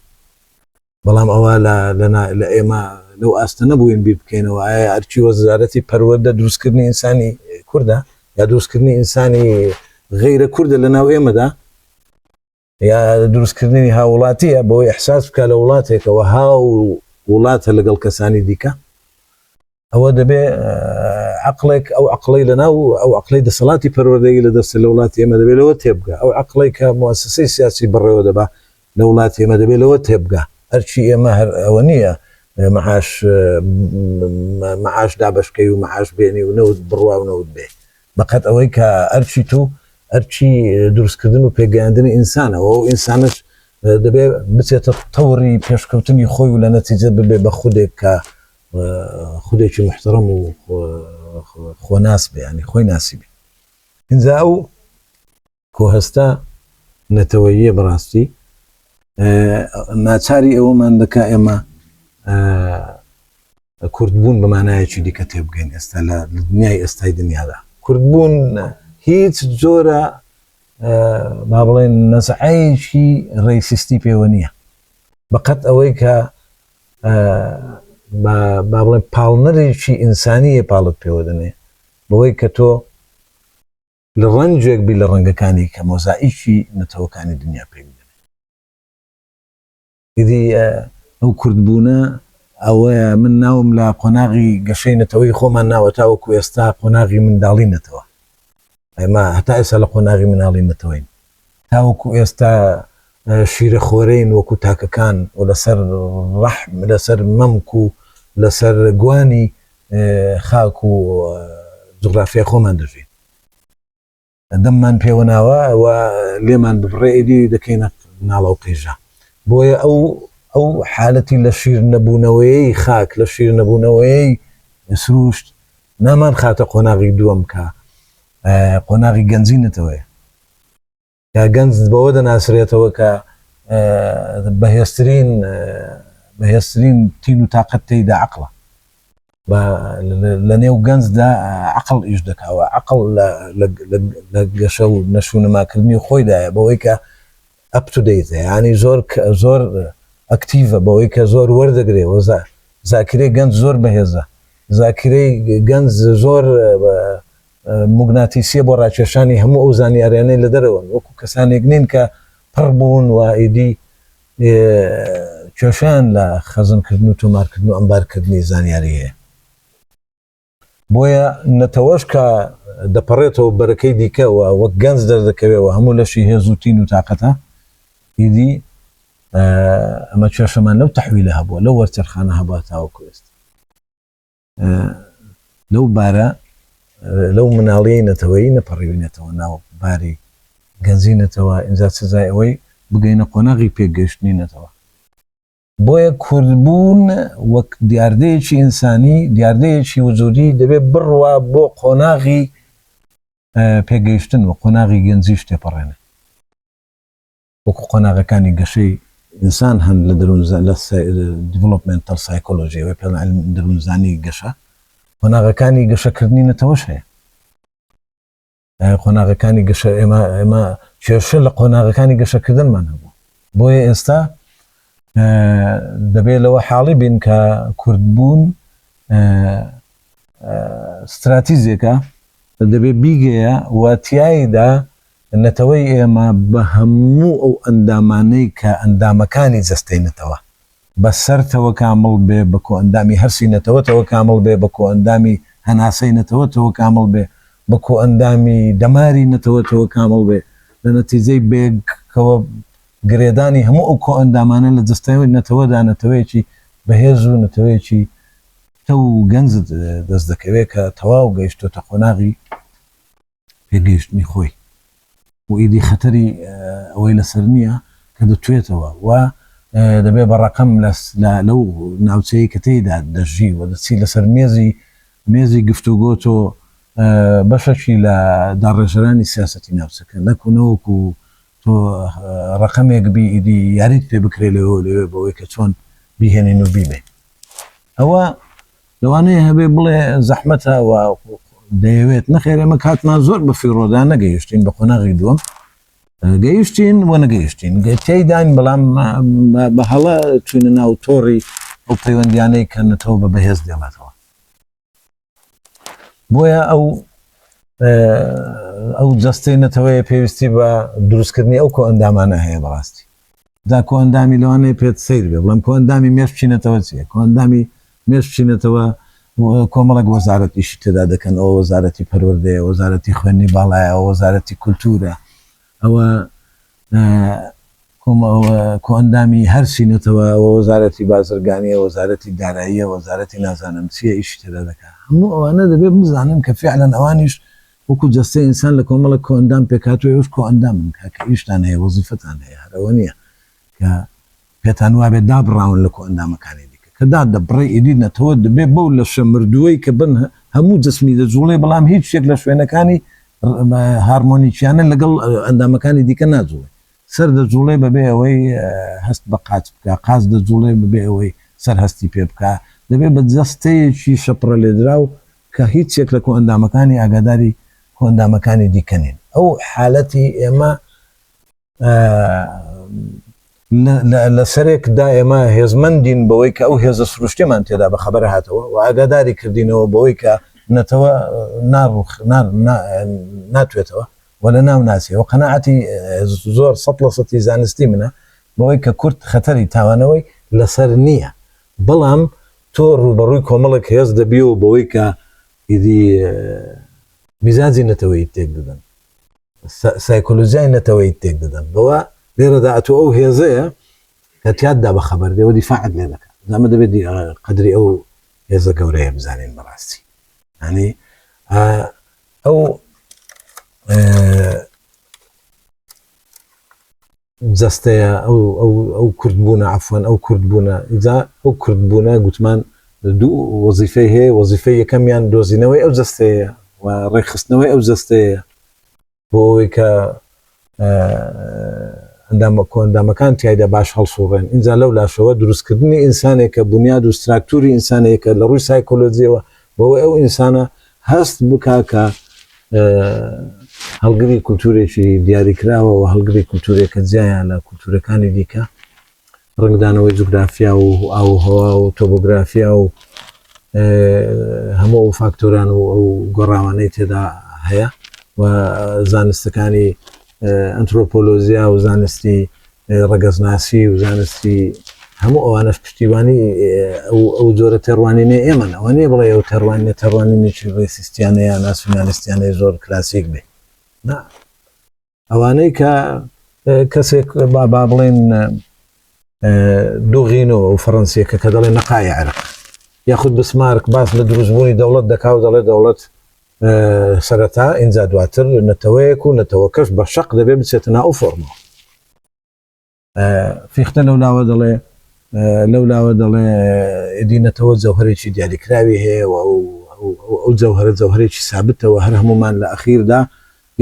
بەڵام ئەوە لە لەنا لە ئێمە لەو ئاستە نەبووین بیر بکەینەوە ئایا ئەرکی وەزارەتی پەروەردە دروستکردنی ئینسانی کوردە یا دروستکردنی ئینسانی غەیرە کوردە لە ناو ئێمەدا یا دروستکردنی هاوڵاتیە بۆی ئەحساس بکە لە وڵاتێکەوە هاو وڵاتە لەگەڵ کەسانی دیکە ئەوە دەبێ عەقڵێک ئەو عەقڵەی لەناو ئەو عەقڵەی دەسەڵاتی پەروەردەیی لە دەستە لە وڵاتی ئێمە دەبێ لەوە تێبگا ئەو عەقڵەی کە موسسەی سیاسی بەڕێوە دەبا لە وڵاتی ئێمە دەبێ لەوە تێبگا ئەرکی ئێمە هەر ئەوە نییە معاش معاش دابەشکەی و معاش بێنی و نەوت بڕوا و نەوت بێ بەقەت ئەوەی کە ئەرکی تو ئەرکی دروستکردن و پێگەیاندنی ئینسانەوە و ئینسانش دەبێ بچێتە تەوری پێشکەوتنی خۆی و لە نەتیجە ببێ بە خودێک کە و خودێکی موحتەڕەم و خۆناس بێ یانی خۆی ناسیبێ ئینجا ئەو کۆهستا نەتەوەییە بەڕاستی ناچاری ئەوەمان دەکا ئێمە کوردبوون بەمانایەکی دیکە تێبگەین ئێستا لە دنیای ئێستای دنیادا کوردبوون هیچ جۆرە با بڵێن نەسعەیەکی ڕێسیستی پێوە نییە بەقەت ئەوەی کە بە با بڵێم پاڵنەرێکی ئینسانیی پاڵت پێوە دەنێ بەوەی کە تۆ لە ڕەنجێک بی لە ڕەنگەکانی کە مۆزائیکی نەتەوەکانی دنیا پێک دەنێ. ئیدی ئەو کوردبوونە ئەوەیە من ناوم لە قۆناغی گەشەی نەتەوەی خۆمان ناوە تاوەکو ئێستا قۆناغی منداڵی نەتەوە. ئێمە هەتا ئێستا لە قۆناغی مناڵی نەتەوەین، تاوەکو ئێستا شیرە خۆرەین وەکو تاکەکان و لەسەر ڕەحم، لەسەر مەمک و لەسەر گوانی خاک و جوغرافیای خۆمان دەژین. دەممان پێوە ناوە و لێمان ببڕێ ئیدی دەکەینە ناڵە و قیژە. بۆیە ئەو ئەو حالەتی لە شیر نەبوونەوەیەی خاک، لە شیر نەبوونەوەیەی سرووشت نامان خاتە قۆناغی دووەم کە قۆناغی گەنجی نەتەوەیە کە گەنج بەوە دەناسرێتەوە کە بەهێزترین بەهێزترین تین و تااقەت تێیدا عقلە لە نێو گەنجدا عقل ئیش دەکەوە عقل لە گەشە و نەشوونەماکردنی خۆیدایە بەوەی کە ئەپ تو دەیتە یانی زۆر زۆر ئەکتیڤە بەوەی کە زۆر وەردەگرێ وە زاکیرەی گەنج زۆر بەهێزە زاکیرەی گەنج زۆر موگناتیسیە بۆ ڕاکێشانی هەموو ئەو زانیاریانەی لە دەرەوەن وەکو کەسانێک نین کە پڕ بوون و ئیدی کێشەیان لە خەزنکردن و تۆمارکردن و ئەمبارکردنی زانیاری هەیە. بۆیە نەتەوەش کە دەپەڕێتەوە بەرەکەی دیکە و وەک گەنج دەردەکەوێ و هەموو لەشی هێز و تین و تاقەتە، ئیدی ئەمە کێشەمان لەو تەحویلە هەبووە، لەو وەرچەرخانە هەبووە تاوەکو ئێستا. لەو بارە، لەو مناڵیی نەتەوەیی نەپەڕیوینەتەوە ناو باری گەنجی نەتەوە، ئینجا سزای ئەوەی بگەینە قۆناغی پێکگەیشتنی نەتەوە. بۆیە کوردبوون وەک دیاردەیەکی ئینسانی، دیاردەیەکی وجودی دەبێت بڕوا بۆ قۆناغی پێگەیشتن و قۆناغی گەنجیش تێپەڕێنێت. وەکو قۆناغەکانی گەشەی ئینسان هەن لە دەروونزانی، لە Developmental Psychology، وە پێڵ علم دەروونزانی گەشە، قۆناغەکانی گەشەکردنی نەتەوەش هەیە. قۆناغەکانی گەشە ئێمە ئێمە کێشە لە قۆناغەکانی گەشەکردنمان هەبوو بۆیە ئێستا دەبێت لەوە حاڵی بین کە کوردبوون ستراتیزێکە دەبێت بیگەیە واتیایدا نەتەوەی ئێمە بە هەموو ئەو ئەندامانەی کە ئەندامەکانی جەستەی نەتەوە بە سەرتەوە کامڵ بێ، بە کۆئەندامی هەرسی نەتەوەتەوە کامڵ بێ، بە کۆئەندامی هەناسەی نەتەوەتەوە کامڵ بێ، بە کۆئەندامی دەماری نەتەوەتەوە کامڵ بێ، لە نەتیجەی بێگ کەوە گرێدانی هەموو ئەو کۆئەندامانە لە جەستەی نەتەوەدا نەتەوەیەکی بەهێز و نەتەوەیەکی پتەو و گەنج دەست دەکەوێ کە تەواو گەیشتۆتە قۆناغی پێگەیشتنی خۆی و ئیدی خەتەری ئەوەی لەسەر نییە کە دەتوێتەوە و دەبێت بە ڕەقەم لەو ناوچەیەی کە تێیدا دەژی و دەچی لەسەر مێزی مێزی گفتوگۆ تۆ بەشەکی لە داڕێژەرانی سیاسەتی ناوچەکە نەکو نەوەکو تۆ ڕەقەمێک بی ئیدی یاریت پێ بکرێت لەوێ لەوێ بەوەی کە چۆن بیهێنین و بیبێ ئەوە لەوانەیە هەبێ بڵێ زەحمەتە و دەیەوێت، نەخێر ئێمە کاتمان زۆر بە فیڕۆدا نەگەیشتین بە قۆناغی دووەم گەیشتین و نەگەیشتین تێداین بەڵام بە هەڵە چوینە ناو تۆڕی ئەو پەیوەندیانەی کە نەتەوە بە بەهێز دێڵێتەوە بۆیە ئەو ئەو جەستەی نەتەوەیە پێویستی بە دروستکردنی ئەو کۆ ئەندامانە هەیە بەڕاستی جا کۆئەندامی لەوانەیە پێت سەیر بێ بڵێم کۆئەندامی مێش بچینەتەوە چیە کۆئەندامی مێش بچینەتەوە کۆمەڵێک وەزارەت ئیشی تێدا دەکەن ئەوە وەزارەتی پەروەردەیە وەزارەتی خوێندنی باڵایە ئەوە وەزارەتی کولتوورە ئەوە کۆئەندامی هەرچی نەتەوە ئەوە وەزارەتی بازرگانیە وەزارەتی داراییە وەزارەتی نازانم چیە ئیشی تێدا دەکات هەموو ئەوانە دەبێت بزانن کە فعلەن ئەوانیش وەکو جەستەی ئینسان لە کۆمەڵێک کۆئەندام پێکهاتووە ئێوەش کۆئەندامن کاکە ئیشتان هەیە وەزیفەتان هەیە هەر ئەوە نیە کە پێتان وابێت دابڕاون لە کۆئەندامەکانی دیکە کە دادەبڕێ ئیدی نەتەوە دەبێ بەو لەشە مردووەی کە بن هەموو جسمی دەجوڵێ بەڵام هیچ یەک لە شوێنەکانی هارمۆنیکیانە لەگەڵ ئەندامەکانی دیکە ناجوڵێ سەر دەجوڵێ بەبێ ئەوەی هەست بە قاچ بکە قاز دەجوڵێ بەبێ ئەوەی سەر هەستی پێ بکە دەبێ بە جەستەیەکی شەپڕە لێدرا و کە هیچ یەک لە کۆئەندامەکانی ئاگاداری کۆئەندامەکانی دیکە نین ئەو حالەتی ئێمە لە سەرێک دا ئێمە هێزمەندین بەوەی کە ئەو هێزە سروشتێمان تێدا بە خەبەر هاتەوە و ئاگاداری کردینەوە بەوەی کە نەتەوە ناڕوخ ناتوێتەوە و لە ناو ناسی و قەنەعەتی زۆر سە لە سەتی زانستی منە بەوەی کە کورد خەتەری تاوانەوەی لەسەر نییە بەڵام تۆ ڕووبەڕووی کۆمەڵێک هێز دەبیەوە بەوەی کە ئیدی میزاجی نەتەوەیت تێک دەدەن سایکۆلۆژیای نەتەوەیت تێک دەدەن بەوە لێرەدا ئەتۆ ئەو هێزەیە کە تیاددا بە خەبەر دێەوە دیفاعت لێ دەکات زەمە دەبێت قدری ئەو هێزە گەورەیە بزانین بەڕاستی ینی ئەو جەستەیە ئەو ئەو ئەو کورد بوونە عەفوەن ئەو کورد بوونە ئیجا ئەو کورد بوونە گوتمان دوو وەزیفەی هەیە وەزیفەی یەکەمیان دۆزینەوەی ئەو جەستەیە و ڕێکخستنەوەی ئەو جەستەیە بۆ ئەوەی کە ئەندامە کۆندامەکان تایدا باش هەڵسوڕێن اینجا لەو لاشەوە دروستکردنی ئینسانێکە بنیاد و ستراکتوری ئینسانەیەکە لە ڕووی سایکۆلۆجیەوە بەوەی ئەو ئینسانە هەست بکا کە هەڵگری کولتوورێکی دیاریکراوە و هەڵگری کولتوورێکە جیایە لە کولتوورەکانی دیکە ڕنگدانەوەی جوگرافیا و ئاو هەوا و تۆبۆگرافیا و هەموو فاکتۆران و ئەو گۆڕاوانەی تێدا هەیە و زانستەکانی ئەنترۆپۆلۆژیا و زانستی ڕەگەزناسی و زانستی هەموو ئەوانەش پشتیوانی ئەو جۆرە تێڕوانینێ ئێمەن ئەوە نیە بڵێ ئەو تێڕوانینە تێڕوانینێکی ڕێسیستیانە یا ناسیونالیستیانەی زۆر کلاسیک بێ نا ئەوانەی کە کەسێک با با بڵێن دوغینەوە و فەڕەنسیەکە کە دەڵێ نەقای عێرق یاخود بسمارک باس لە دروستبوونی دەوڵەت دەکا و دەڵێ دەوڵەت سەرەتا ئینجا دواتر نەتەوەیەک و نەتەوەکەش بە شەق دەبێ بچێتە ناو فۆرمەوە فیختە لەو لاوە دەڵێ لەو لاوە دەڵێ دینەتەوە جەوهرێکی دیاریکراوی هەیە و ئەو جەوهرە جەوهرێکی سابتەوە هەر هەمومان لە ئەخیردا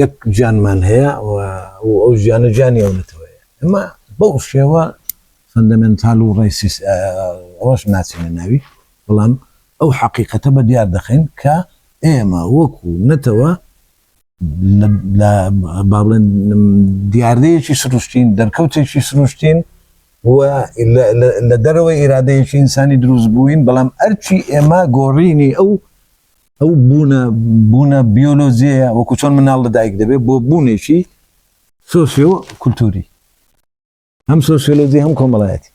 یەک گیانمان هەیە و ئەو ژیانە گیانی ئەوەتەوەەیە ئەمە بەو شێوە فەندەمنتال و ڕێسیس ئەوەش ناچینە ناوی بەڵام ئەو حەقیقەتە بە دیار دەخەین کە ئێمە وەکو نەتەوە لە با بڵێن دیاردەیەکی سروشتین، دەرکەوتێکی سروشتین و لە دەرەوەی ئیرادەیەکی ئینسانی دروست بووین، بەڵام ئەرکی ئێمە گۆڕینی ئەو ئەو بوونە بوونە بیۆلۆجیەیە وەکو چۆن مناڵ لە دایک دەبێت بۆ بوونێکی سۆسیۆ کولتووری. هەم سۆسیۆلۆجی هەم کۆمەڵایەتی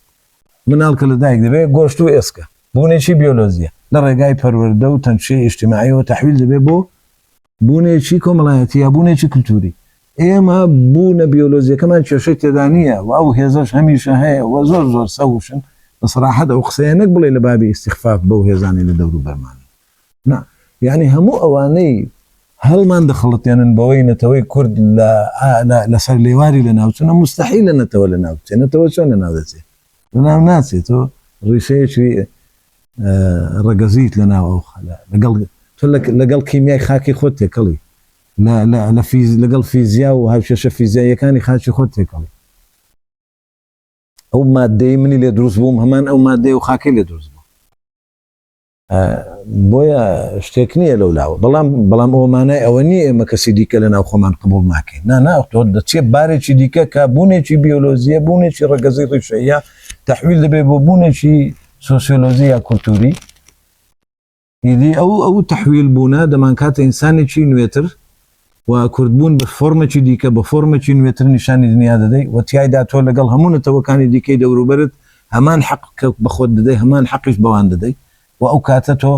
مناڵ کە لە دایک دەبێت گۆشت و ئێسکە بوونێکی بیۆلۆجیە لە ڕێگای پەروەردە و تەنشەی ئیشتیماعیەوە تەحویل دەبێت بۆ بوونێکی کۆمەڵایەتی یا بوونێکی کللتوری ئێمە بوونە بیۆلۆجیەکەمان کێشەی تێدا نییە و ئەو هێزش هەمیشە هەیە و زۆر زۆر سەوشن بە سەراحەت ئەو قسەیە نەک بڵێ لە بابی ئیسیخفاف بەو هێزانی لە دەوروبەرمان نا یانی هەموو ئەوانەی هەڵمان دەخڵەتێنن بەوەی نەتەوەی کورد لە لە سەر لێواری لە ناوچونە مستحی لە نەتەوە لە ناوچێ نەتەوە چۆن لە ناو دەچێت لە ناو ناچێت تۆ ڕیشەیەکی ڕەگەزیت لە ناو ئەو خەلە لەگەڵ تۆ لەگەڵ کیمیای خاکی خۆت تێکەڵی لە فیز لەگەڵ فیزیا و هاوشێشە فیزیاییەکانی خاچی خۆت تێکەڵی ئەو مادەی منی لێ دروست بووم هەمان ئەو مادەی و خاکی لێ دروست بوو بۆیە شتێک نییە لەو لاوە بەڵام بەڵام ئەوە مانای ئەوە نییە ئێمە کەسی دیکە لە ناو خۆمان قبول ناکەین نا ناوتۆ دەچێت بارێکی دیکە کە بوونێکی بیۆلۆزیە بوونێکی ڕگەزی ڕیشەیە تحویل دەبێت بۆ بوونێکی سوسیۆلۆزی یا کولتوری ئیدی ئەو ئەو تحویل بوونە دەمان کاتە ئینسانێکی نوێتر و کوردبوون بە فۆرمێکی دیکە، بە فۆرمێکی نوێتر نیشانی دنیا دەدەی و تیایدا تۆ لەگەڵ هەموو نەتەوەکانی دیکەی دەوروبەرت هەمان حەق بە خۆت دەدەی، هەمان حەقیش بەوان دەدەی و ئەو کاتە تۆ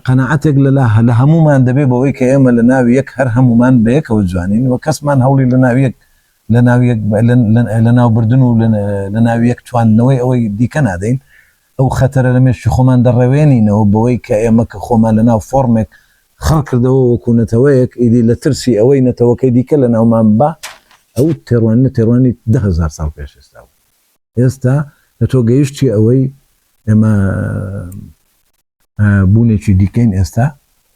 قەناعەتێک لە لە هەموومان دەبێت بەوەی کە ئێمە لە ناو یەک هەر هەموومان بە یەکەوە جوانین و کەسمان هەوڵی لە ناو یەک لە ناو یەک لە ناوبردن و لە ناو یەک تواندنەوەی ئەوەی دیکە نادەین. ئەو خەتەرە لە مێشکی خۆمان دەڕەوێنینەوە بەوەی کە ئێمە کە خۆمان لە ناو فۆڕمێک خڕ کردەوە وەکوو نەتەوەیەک ئیدی لە ترسی ئەوەی نەتەوەکەی دیکە لە ناومان ببا ئەو تێڕوانینە تێڕوانی دە هەزار ساڵ پێش ئێستا بوو ئێستا لە تۆ گەیشتی ئەوەی ئێمە بوونێکی دیکەین ئێستا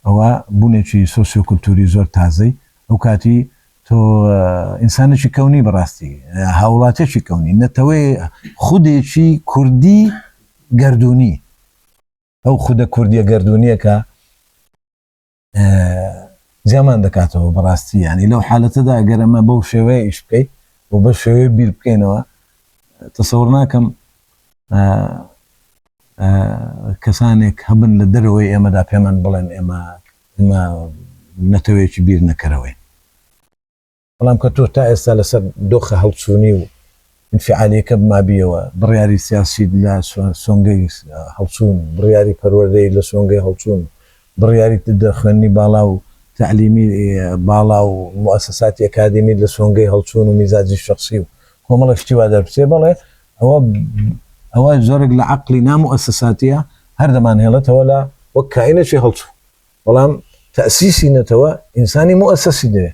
ئەوە بوونێکی سۆسیۆکولتووری زۆر تازەی ئەو کاتی تۆ ئینسانێکی کەونی بەڕاستی هاوڵاتێکی کەونی نەتەوەی خودێکی کوردی گردردونی ئەو خودە کوردیە گردردونیەکە زیامان دەکاتەوە بەڕاستی ینی لەو حالەتەدا گەرەمە بەو شێوەیە ئیش بکەیت و بە شێوەیە بیر بکەینەوە تەسەور ناکەم کەسانێک هەبن لە دەرەوەی ئێمەدا پێمان بڵێن ئێمە ئێمە نەتەوەیەکی بیر نەکەرەوەین. بەڵام کە تۆ تا ئێستا لەسەر دۆخە هەڵچوونی و ئینفیعالییەکە بمابییەوە، بڕیاری سیاسیت لە سۆنگەی هەڵچوون، بڕیاری پەروەردەیت لە سۆنگەی هەڵچوون، بڕیاریت لە خوێندنی باڵا و تەعلیمی باڵا و موئەسەساتی ئەکادیمیت لە سۆنگەی هەڵچوون و میزاجی شەخسی و کۆمەڵێک شتی وا دەربچێ، بەڵێ ئەوە ئەوە جۆرێک لە عەقڵی نا موئەسەساتیە هەر دەمانهێڵێتەوە لە وەک کائینێکی هەڵچوو، بەڵام تەئسیسی نەتەوە ئینسانی موئەسەسی دەوێ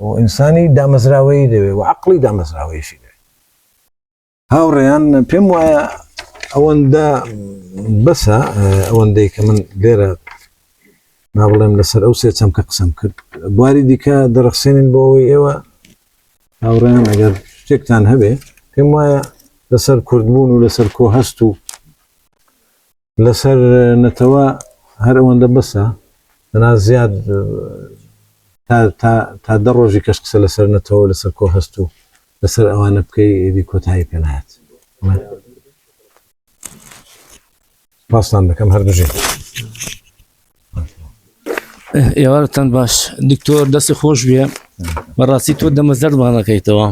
و ئینسانی دامەزراوەیی دەوێ و عەقڵی دامەزراوەییشی دەوێ. هاوڕێیان پێم وایە ئەوەندە بەسە ئەوەندەی کە من لێرە نابڵێم لەسەر ئەو سێ چەمکە قسەم کرد بواری دیکە دەڕخسێنین بۆ ئەوەی ئێوە هاوڕێیان ئەگەر شتێکتان هەبێ پێم وایە لەسەر کوردبوون و لەسەر کۆ هەست و لەسەر نەتەوە هەر ئەوەندە بەسە بەنا زیاد تا دە ڕۆژی کەش قسە لەسەر نەتەوە لەسەر کۆ هەست و لەسەر ئەوانە بکەی ئێدی کۆتایی پێنات سپاستان دەکەم هەر بژێت ئێوارتان باش دکتۆر دەستی خۆش بێ بەڕاستی تۆ دەمە زەربانەکەیتەوە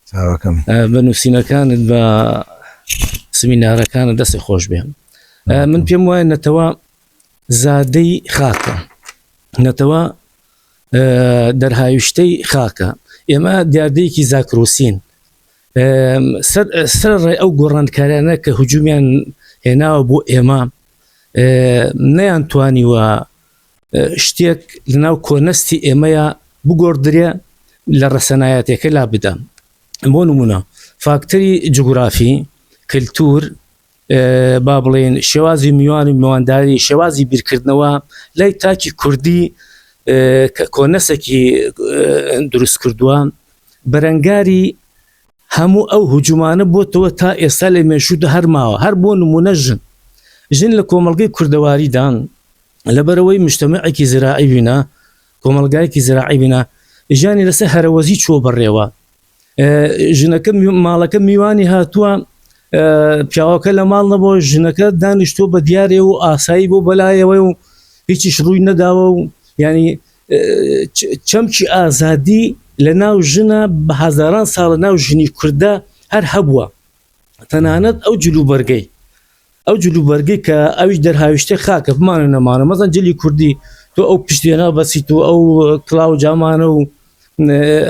چاوەکەم بە نووسینەکانت بە سمینارەکانە دەستی خۆش بێ من پێم وایە نەتەوە زادەی خاکە نەتەوە دەرهاویشتەی خاکە ئێمە دیاردەیەکی زاکرۆسین سەر ڕێ ئەو گۆڕانکارانە کە هجومیان هێناوە بۆ ئێمە نەیان توانیوە شتێک لەناو کۆنەستی ئێمەیە بگۆڕدرێ لە ڕەسەنایەتەکە لا بدەم بۆ نمونە فاکتەری جوگرافی کللتور با بڵێن شێوازی میوان و میوانداری شێوازی بیرکردنەوە لای تاکی کوردی کە کۆنەسەکی دروست کردووە بەرەنگاری هەموو ئەو هجومانە بۆتەوە تا ئێستا لە مێشودا هەرماوە هەر بۆ نمونە ژن ژن لە کۆمەلگەی کوردەواریدان لەبەرەوەی مشتمەعێکی زراعی بینە کۆمەلگایەکی زراعی بینە ژیانی لەسەر هەرەوەزی چۆ بەڕێوە ژنەکە ماڵەکە میوانی هاتووە پیاوەکە لە ماڵ نەبوو ژنەکە دانیشتۆ بە دیارێ و ئاسایی بۆ بەلایەوە و هیچیش ڕووی نەداوە و ینی چەمکی ئازادی لە ناو ژنە بە هەزاران ساڵە ناو ژنی کوردە هەر هەبووە تەنانەت ئەو جلوبەرگەی ئەو جل و بەرگەی کە ئەویش دەرهاویشتەی خاکە بمانە نەمانە مەزەن جلی کوردی تۆ ئەو پشتێنە بەسیت و ئەو کلااو جامانە و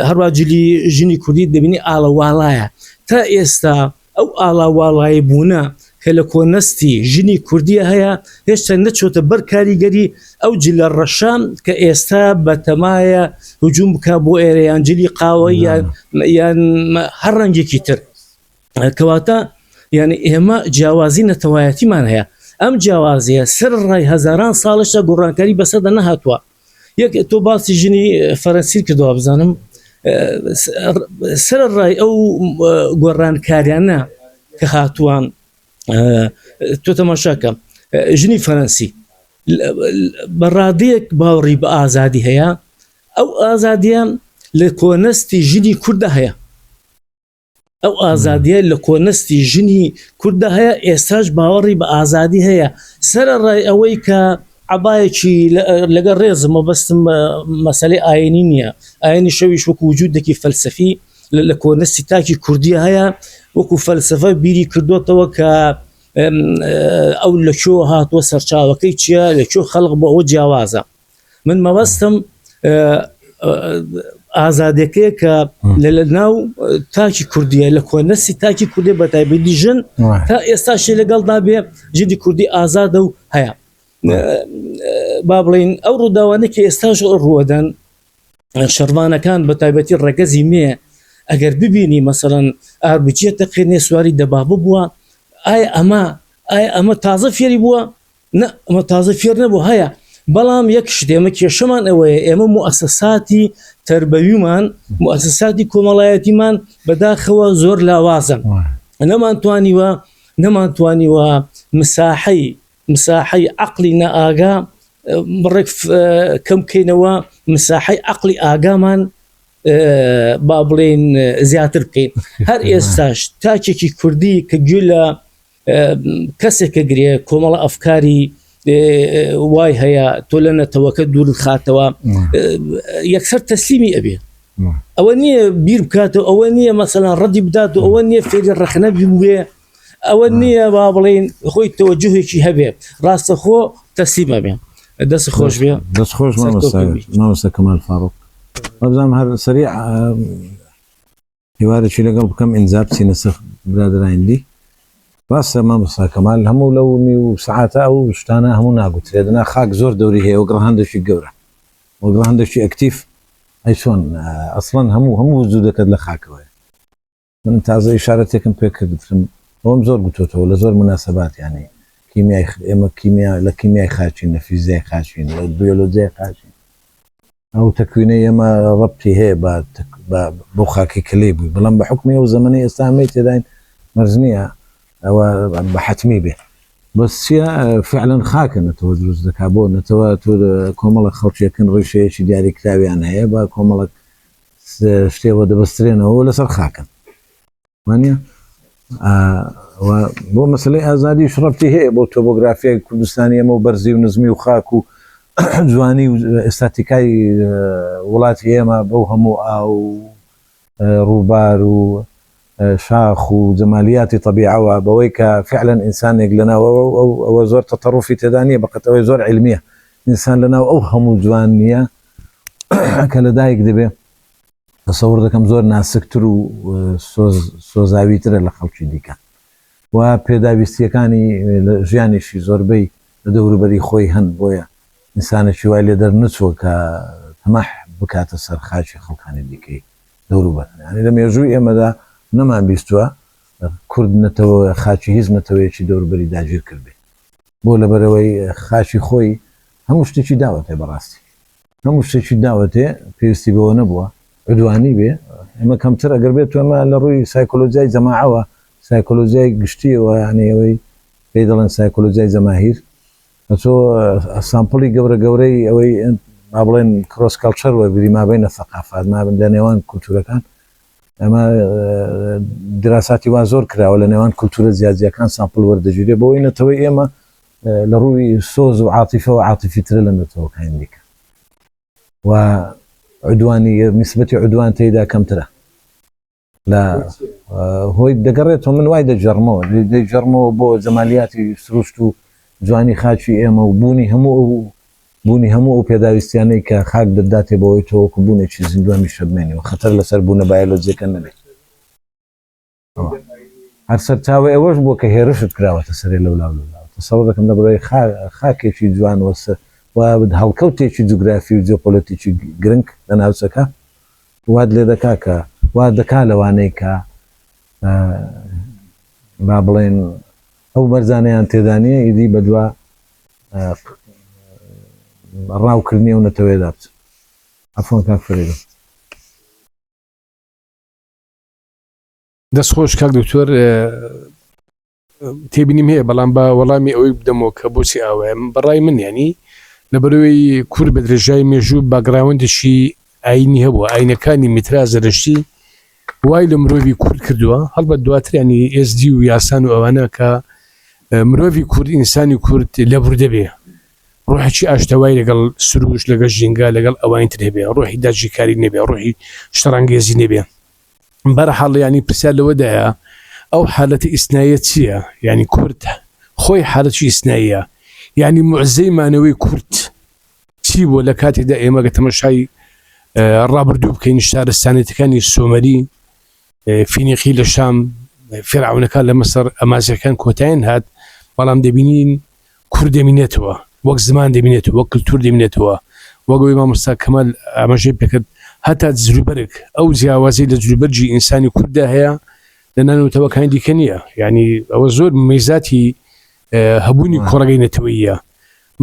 هەروە جلی ژنی کوردی دەبینی ئالەواڵایە تا ئێستا ئەو ئاڵاواڵایی بوونە کە لە کۆنەستی ژنی کوردیە هەیە هێشتا نەچۆتە بەر کاریگەری ئەو جلە ڕەشە کە ئێستا بە تەمایە هجووم بک بۆ ئێرەیان جلی قاوە یان یان هەر ڕەنگێکی تر کەواتە یعنی ئێمە جیاوازی نەتەوایەتیمان هەیە ئەم جیاوازیە سەر ڕای هەزاران ساڵشە گۆڕانکاری بەسەدە نەهاتووە یەک تۆ باسی ژنی فەرەنسیر کردەوە بزانم سەر ڕای ئەو گۆڕانکاریانە کە هاتووان تۆ تەماشاکە ژنی فەرەنسی بە ڕادەیەک باوەڕی بە ئازادی هەیە ئەو ئازادیان لە کۆنەستی ژنی کووردە هەیە ئەو ئازادیە لە کۆنەستی ژنی کورددا هەیە ئێستاش باوەڕی بە ئازادی هەیە سرە ڕای ئەوەی کە عباەکی لەگە ڕێزم و بەستم مەسلەی ئاینی نییە ئاینی شەویش وەکو وجودێکی فەلسفی لە کۆنەستی تاکی کوردی هەیە وەکو فەلسفە بیری کردوتەوە کە ئەو لە چۆ هاتووە سەرچاوەکەی چییە لە چۆ خەڵق بۆ ئەوە جیاوازە من مەبەستم ئازادەکەی کە لە لە ناو تاکی کوردیە لە کۆنەسی تاکی کوردی بە تایبەتی ژن تا ئێستاشی لەگەڵدا بێ جدی کوردی ئازادە و هەیە با بڵین ئەو ڕووداوانە کە ئێستاش ڕوەدەن شەرمانەکان بە تایبەتی ڕەگەزی مێ ئەگەر ببینی مەسەرەن ئاربجیە تەقێنێ سواری دەبابە بووە ئایا ئەمە ئایا ئەمە تازە فێری بووە نا ئەمە تازە فێر نەبوو هەیە بەڵام یەک شتێمە کێشەمان ئەوەیە ئێمە موئسساتی تربەویمان موئسساتی کۆمەڵایەتیمان بەداخەوە زۆر لاوازن نەمان توانیوە نەمان توانیوە مساحەی مساحەی عقلی نەئاگا بڕێک کەم بکەینەوە مساحەی عقلی ئاگامان با بڵێن زیاتر بکەین هەر ئێستاش تاکێکی کوردی کە گوێ لە کەسێک کە گرێ کۆمەڵە ئەفکاری وای هەیە تۆ لە نەتەوەکە دوور خاتەوە یەکسەر تەسلیمی ئەبێ ئەوە نییە بیر بکات و ئەوە نییە مەسەلا ڕەدی بدات و ئەوە نییە فێری ڕخنە بوێ ئەوە نییە با بڵین خۆی تەوەجهێکی هەبێ ڕاستەخۆ تەسلیمە بێ دەست خۆش بێ دەست خۆش مامۆستا کەمال فاڕۆک بەبزانام هەر سەری هیوارێکی لەگەڵ بکەم ئینجا بچینە سەر برادەراین دی. ڕاستە مامۆستا کەمال هەموو لەو نیو سەعاتە ئەو شتانە هەموو ناگوترێ دەنا خاک زۆر دەوری هەیە وەک ڕەهەندێکی گەورە وەک ڕەهەندێکی ئەکتیف ئەی چۆن ئەسڵەن هەموو هەموو وجودەکەت لە خاکەوەیە من تازە ئیشارەتێکم پێ کردترم ئەوم زۆر گوتۆتەوە لە زۆر مناسەبات یانی کیمیای ئێمە کیمیا لە کیمیای خاچین لە فیزیای خاچین لە بیۆلۆجیای خاچین ئەو تەکوینەی ئێمە ڕەبتی هەیە بە بە بەو خاکەی کە لێی بووین، بەڵام بە حوکمی ئەو زەمەنەی ئێستا ئێمەی تێداین مەرج نییە ئەوە بە حەتمی بێ. بەس چییە فعلەن خاکە نەتەوە دروست دەکات، بۆ نەتەوە تۆ کۆمەڵێک خەڵکێکن ڕیشەیەکی دیاریکراویان هەیە بە کۆمەڵێک شتێوە دەبەسترێنەوە و لەسەر خاکن. وانە بۆ مەسلەی ئازادیش ڕەتی هەیە بۆ تۆبۆگرافیای کوردستانی ئەمە و بەرزی و نزمی و خاک و جوانی و ئێستاتیکای وڵاتی ئێمە بەو هەموو ئا و ڕووبار و شاخ و جەمالیاتی طببیعەوە بەوەی کە فعلەن ئینسانێک لەناوە ئەوە زۆر تەتەڕوفی تێدانە بەقەتەوەی زۆر علمیە ئینسان لەناو ئەو هەموو جوان نییە کە لە دایک دەبێ تەسەور دەکەم زۆر ناسکتر و سۆز سۆزاویترە لە خەڵکی دیکە و پێداویستییەکانی لە ژیانیشی زۆربەی لە دەوروبەری خۆی هەن بۆیە ئینسانێکی وای لێ دەرنەچووە کە تەماح بکاتە سەر خاکی خەڵکانی دیکەی دەوروبەر یانی لە مێژووی ئێمەدا نەمان بیستووە کورد نەتەوە خاکی هیچ نەتەوەیەکی دەوروبەری داگیر کردبێ بۆ لەبەرەوەی خاکی خۆی هەموو شتێکی داوەتێ بەڕاستی هەموو شتێکی داوەتێ پێویستی بەوە نەبووە عدوانی بێ ئەمە کەمتر ئەگەر بێت تۆمە لە ڕووی سایکۆلۆژیای جەماعەوە سایکۆلۆژیای گشتیەوە یانەی ئەوەی پێی دەڵێن سایکۆلۆژیای جەماهیر ئەچۆ سامپڵی گەورە گەورەی ئەوەی ما بڵێن کرۆس کەڵچەر وەرگری مابینە سەقافات مابن لە نێوان کولتورەکان ئەمە دراساتی وا زۆر کراوە لە نێوان کولتورە زیاجیەکان سامپل وەردەگیرێ بۆی نەتەوەی ئێمە لە ڕووی سۆز و عاتیفەوە عاتیفیترە لە نەتەوەکانی دیکە و عودوانی نیسبەتی عودوان تێیدا کەمترە لە هۆی دەگەڕێتەوە من وای دەجەڕمەوە دەجەڕمەوە بۆ جەمالیاتی سروشت و جوانی خاچی ئێمە و بوونی هەموو ئەو بوونی هەموو ئەو پێداویستیانەی کە خاک دەداتێ بەوەی تۆوەکو بوونێکی زیندوانی شەبمێنەوە خەتەر لەسەر بوونە بایەلۆجیەکە نەبێت. ەوە هەر سەرچاوەی ئەوەش بووە کە هێرشت کراوەتە سەرێ لەولا و لەولا و تەسەوڕ دەکەم لە بەرای خاکێکی جوان و و هەڵکەوتێکی جوگرافی و جیۆپۆلەتیکی گرنگ لە ناوچەکە وات لێ دەکا کە وا دەکا لەوانەی کە با بڵێن ئەو بەرزانەیان تێدا نییە ئیدی بەدوا ڕاوکردنی ئەو نەتەوەیەدا بچن ئەفۆن کاک فرێدە دەست خۆش کاک دکتۆر تێبینیم هەیە بەڵام بە وەڵامی ئەوەی بدەمەوە کە بۆچی ئاوایم بەڕای من ینی لەبەرەوەی کورد بە درێژای مێژوو باگراوندێکی ئاینی هەبووە ئاینەکانی میترا زەرشتی وای لە مرۆڤی کورد کردووە هەڵبەت دواتریانی ئێزدی و یاسان و ئەوانە کە مرۆڤی کورد ئینسانی کورد لە بردەبێ ڕۆحێکی ئاشتەوای لەگەڵ سروش لەگەڵ ژینگە لەگەڵ ئەوانی تر هەبێ ڕۆحی داجیکاری نەبێ ڕۆحی شتەڕانگێزی نەبێ بەرحاڵ یانی پرسیار لەوەدایە ئەو حالەتە ئیسناییە چیە یانی کورد خۆی حالەتی ئیسناییە یانی موعزەی مانەوەی کورد چی بووە لە کاتێکدا ئێمە گە تەمەشای ڕابردوو بکەین شارستانێتەکانی سۆمەری فینیقی لە شام فێراونەکان لە مەسەر ئەمازەکان کۆتایین هات بەڵام دەبینین کورد دەمینێتەوە وەک زمان دەمینێت وەک کللتور دەمینێتەوە وەگەوەی مامۆستا کەمەل ئاماژەی پێکرد هەتا جلوبەرگ ئەو جیاوازی لە جلوبەرجی ئینسانی کورددا هەیە لە نانەوەتەوەکانی دیکە نییە یعنی ئەوە زۆر میزاتی هەبوونی کۆڕگەی نەتەوەیە